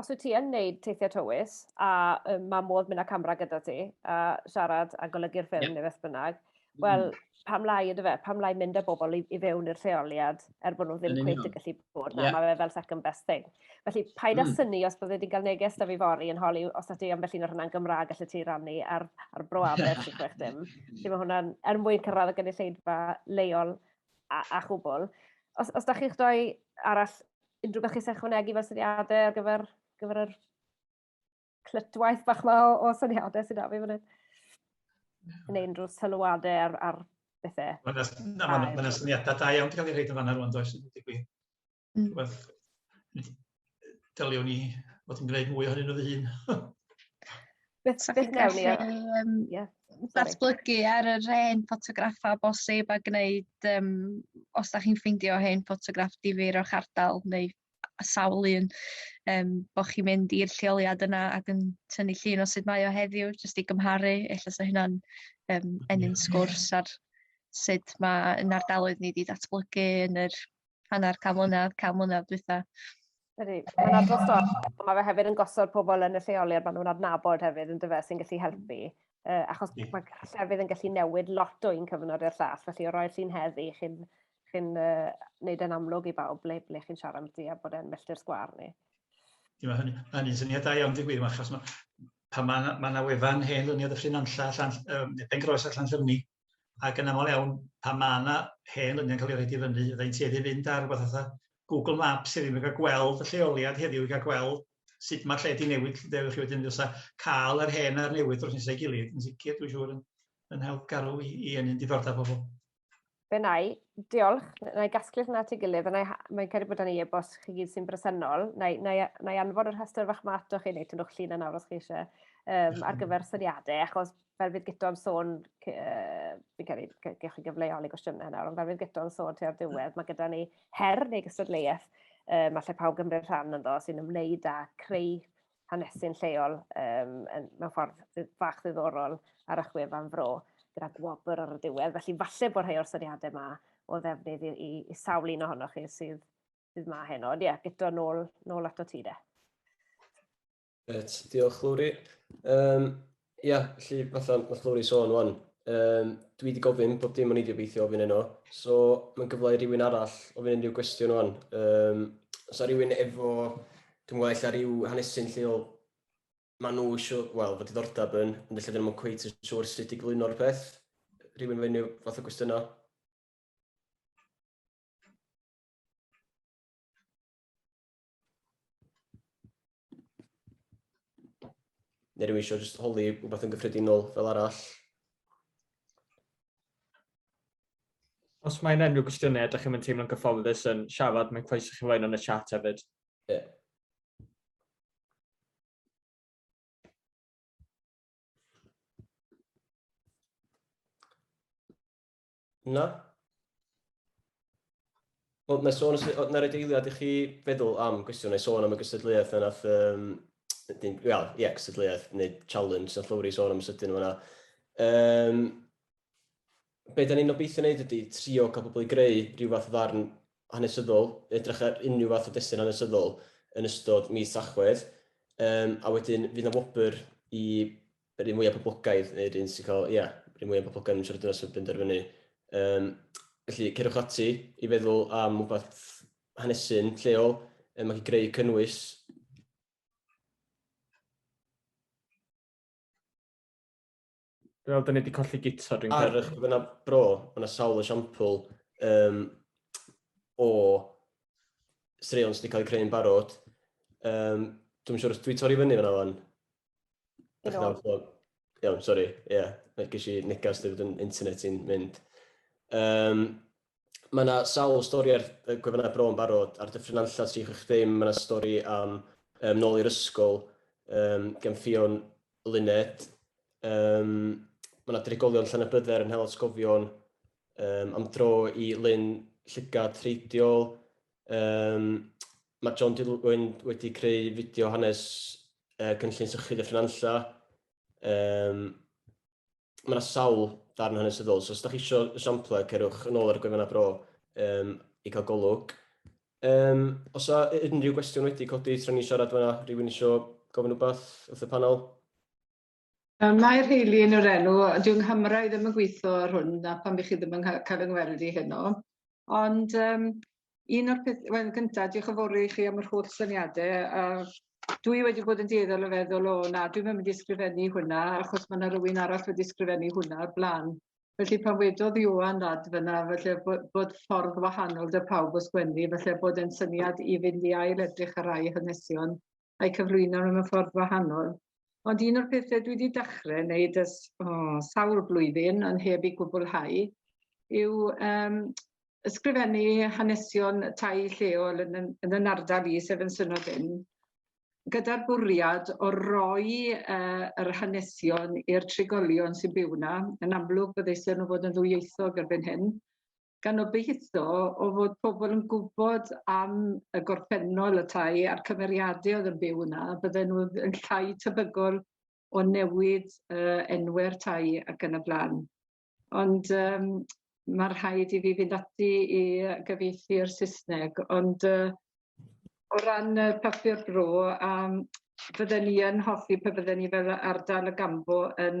os wyt ti yn wneud teithiau tywys, a um, mae modd mynd â camera gyda ti, a siarad a golygu'r ffilm yeah. neu beth bynnag, mm. wel, pam lai ydy fe, pam lai mynd â bobl i, i fewn i'r rheoliad er bod nhw ddim cweith yn gallu bod na, yeah. mae fe fel second best thing. Felly, paid â mm. syni os byddai wedi cael neges da fi fori yn holi, os ydych am felly na hwnna'n Gymraeg allai ti rannu ar, ar bro aber sy'n chwech dim. Felly mae hwnna'n er mwyn cyrraedd y gynulleidfa leol a, a chwbl. Os, os da chi'ch doi arall unrhyw beth chi'n ychwanegu fel syniadau ar gyfer, gyfer yr clytwaith bach ma o, o syniadau sy'n da fi fan hyn. Yn ein drwy sylwadau ar, ar bethau. Mae'n ma syniadau da iawn wedi cael ei rhaid yn fanna rwan, does? Mm. Rhywbeth, dyliwn ni fod yn gwneud mwy ohonyn nhw fy hun. Beth sa chi'n gallu yym ie datblygu ar yr hen ffotograffa o bosib a gneud yym os 'dach chi'n ffeindio hen ffotograff difyr o'ch ardal neu a- sawl un yym bo' chi'n mynd i'r lleoliad yna ac yn tynnu llun o sut mae o heddiw jyst i gymharu ella sa hynna'n yym ennyn sgwrs ar sut ma' 'yn ardaloedd ni 'di datblygu yn yr hanner can mlynedd, can mlynedd dwytha. Ydy, mae'n adrodd stori, mae fe hefyd yn gosod pobl yn y lleoliad maen nhw'n adnabod hefyd yn dyfa sy'n gallu helpu. Uh, achos yeah. mae llefydd yn gallu newid lot o un cyfnod i'r llall, felly o roi'r llun heddi, chi'n chi uh, neud e'n amlwg i bawb ble, ble chi'n siarad amddi a bod e'n melltir sgwar ni. Ie, mae hynny, hynny'n syniad da iawn, dwi'n gwir, achos mae, pan mae yna ma wefan hen lyniad y ffrin anlla, allan, um, pen gros allan llymni, ac yn aml iawn pan mae yna hen lyniau'n cael ei roed i fyny, fydda i'n tueddu i fynd ar rywbeth fatha Google Maps i rywun gael gweld y lleoliad heddiw, i gael gweld sut mae'r lle wedi newid, lle dewch chi wedyn fysa cael yr hen a'r newydd dros nesau gilydd, yn sicr dwi'n siŵr yn, yn help garw i, i enyn diddordeb pobl. Fe na i, diolch, na i gasglu hwnna at ei gilydd, a mae'n cael ei bod yn ei e-bost chi gyd sy'n bresennol, na i, na i, na i anfon yr hyster fach ma ato chi, neu tynnwch llun yna os chi eisiau, um, ar gyfer syniadau, achos fel fydd gyto'n sôn, uh, fi'n cael ei gewch chi gyfleol i gwestiynau nawr, ond fel fydd gyto'n sôn tua'r diwedd, mae gyda ni her neu gystadleuaeth, um, allai pawb gymryd rhan ynddo, sy'n ymwneud â creu hanesu'n lleol um, mewn ffordd fach ddiddorol ar y chwefan fro gyda gwobr ar y diwedd. Felly falle bod rhai o'r syniadau yma o ddefnydd i, i, i sawl un ohonoch chi sydd, sydd ma heno. Ond ie, yeah, gyda nôl, nôl ato ti de. Reit, diolch Lowri. Um, ia, felly fatha mae Lowri sôn wan, um, dwi wedi gofyn bob dim o'n i wedi obeithio ofyn yno, so mae'n gyfle i rywun arall ofyn unrhyw gwestiwn wan. Um, os a rhywun efo, dwi'n gweld eich rhyw hanesyn lleol, maen nhw eisiau, wel, fod diddordeb yn, ond felly dyn nhw'n cweith yn siŵr sut i glyno'r peth. Rhywun fe unrhyw fath o gwestiynau? Neu rwy'n eisiau just holi rhywbeth yn gyffredinol fel arall? Os mae yna unrhyw gwestiynau, ydych chi'n teimlo'n gyfforddus yn siarad, mae'n croeso chi roi yn y chat hefyd. Ie. Yeah. Na? Wel, na sôn, na rhaid eiliad i chi feddwl am gwestiwn, neu sôn am y gysadleuaeth yna, um, ie, well, yeah, gysadleuaeth neu challenge, na llwyr i sôn am sydyn yna. Um, be da ni'n obeithio wneud ydy trio cael pobl i greu rhyw fath o ddarn hanesyddol, edrych ar unrhyw fath o destun hanesyddol yn ystod mis Tachwedd, um, a wedyn fydd na wobr i yr un mwya poblogaidd, neu'r un sy'n cael, ia, yr un mwya poblogaidd yn siarad dynas yn benderfynu. Um, felly, cerwch ati i feddwl am wbeth hanesu'n lleol, um, ac i greu cynnwys Wel, dyn ni wedi colli gito, dwi'n credu. Ar eich byna bro, mae yna sawl esiampl um, o straeon sydd wedi cael eu creu'n barod. Um, dwi'n siŵr os dwi'n torri fyny fyna fan. Dach chi'n iawn, so, iawn, sori, ie, yeah. Mae gysi negas dweud yn internet i'n mynd. Um, mae yna sawl stori ar y gwefannau bro yn barod, ar dyffryn anlla sych eich ddim, mae yna stori am um, nôl i'r ysgol, um, gan ffion Luned. Um, mae yna drigolion llan y bydder yn hel atgofion um, am dro i Lyn Llygad Treidiol, Um, mae John Dilwyn wedi creu fideo hanes uh, cynllun sychu Dyffryn Anlla. Um, mae yna sawl darn hanesyddol, so os da chi eisiau esiamplau, cerwch yn ôl ar y gwefan a bro um, i cael golwg. Um, os yna unrhyw gwestiwn wedi codi tra ni siarad fyna, rhywun eisiau gofyn rhywbeth wrth y panel? Yy mae rheili yn yr enw ond dyw nghamera i ddim yn gwitho ar hwn a pam 'ych chi ddim yn ca- ca'l 'yn ngweld i heno. Ond yym un o'r peth- wel yn gynta dioch yn fowr i chi am yr holl syniade a dwi wedi bod yn dueddol o feddwl o na dwi'm yn mynd i sgrifennu hwnna achos ma' 'na rywun arall wedi sgrifennu hwnna o'r bla'n. Felly pan wedodd Ioan ladd fan 'na falle bo- bod ffordd wahanol 'da pawb o sgwennu falle bod e'n syniad i fynd i ail edrych ar rai hanesion a'i cyflwyno mewn ffordd wahanol. Ond un o'r pethau dwi wedi dechrau wneud ers o, sawl blwyddyn, ond heb ei gwblhau, yw um, ysgrifennu hanesion tai lleol yn, yn yn ardal i, sef yn Synod Ynn, gyda'r bwriad o roi uh, yr hanesion i'r trigolion sy'n byw yna. Yn amlwg, byddai syn nhw fod yn ddwyieithog erbyn hyn, gan obeitho o fod pobl yn gwybod am y gorffennol y tai a'r cymeriadau oedd yn byw yna, bydden nhw yn llai tebygol o newid uh, enwau'r tai ac yn y blaen. Ond um, mae rhaid i fi fynd ati i gyfeithi i'r Saesneg, ond uh, o ran y papur bro, um, fydden ni yn hoffi pe bydden ni fel ardal y gambo yn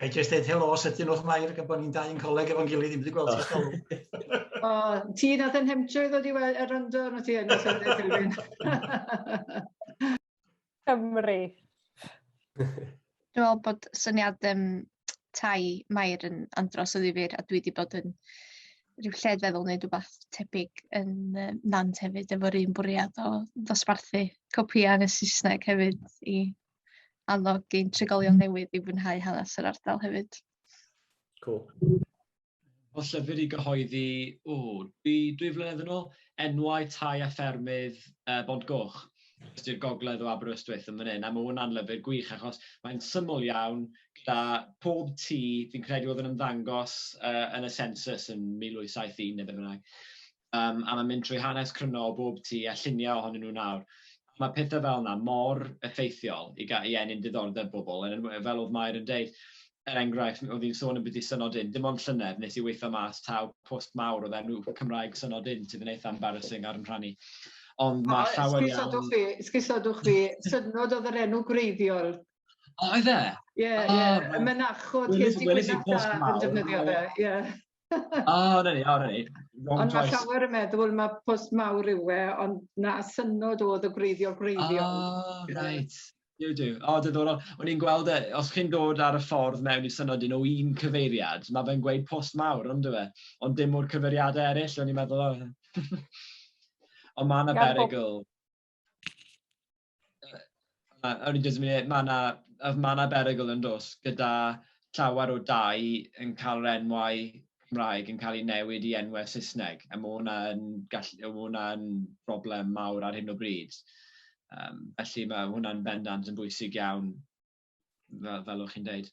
Ga i jyst dweud helo, sydyn o'ch mair, gan bod ni'n dau yn coleg efo'n gilydd, i'n wedi gweld oh. ysgol. o, ti nath yn hemtio i ddod i weld yr yndo, nhw ti yn ysgol. Cymru. Dwi'n meddwl bod syniad um, tai Mair yn andros o ddifur a dwi wedi bod yn rhyw lled feddwl neu rhywbeth tebyg yn um, Nant hefyd efo'r un bwriad o ddosbarthu copïau yn y Saesneg hefyd i annog ein trigolion mm. newydd i fwynhau hanes yr ardal hefyd. Cool. O llyfr i gyhoeddi, o, dwi, dwi flynedd yn ôl, enwau tai a ffermydd uh, Bont Goch. jyst i'r gogledd o Aberystwyth yn fan hyn, a mae hwnna'n lyfr gwych achos mae'n syml iawn gyda pob tŷ, fi'n credu oedd yn ymddangos uh, yn y census yn 1871 neu beth bynnag, um, a mae'n mynd trwy hanes cryno o bob tŷ a lluniau ohonyn nhw nawr. Mae pethau fel yna mor effeithiol i, ga, i enyn diddordeb bobl, yn, fel oedd Mair yn deud, er enghraifft, oedd hi'n sôn yn byd i synod un, dim ond llynedd nes i weithio mas taw post mawr oedd enw Cymraeg synod un sydd yn eitha embarrassing ar yn rhannu. Ond mae llawer iawn... Sgusodwch fi, synod oedd yr enw gwreiddiol. O, oedd e? Ie, ie, y mynachod ges i gwynaf da yn defnyddio fe, ie. O, na ni, o, na ni. Ond mae llawer yn meddwl mae post mawr yw e, ond na synod oedd y gwreiddiol gwreiddiol. O, reit. Yw, yw. O, diddorol. O'n i'n gweld e, os chi'n dod ar y ffordd mewn i synod un o un cyfeiriad, mae fe'n gweud post mawr, ond dwi e? Ond dim o'r cyfeiriadau eraill, o'n i'n meddwl, o. ond mae yna berygl. Mae yna ma na, ma na berygl yn dos gyda llawer o dau yn cael yr enwau Cymraeg yn cael ei newid i enwau Saesneg, a mae hwnna'n gallu, mae hwnna'n broblem mawr ar hyn o bryd. Um, felly mae hwnna'n bendant yn bwysig iawn, fel, fel o'ch chi'n dweud.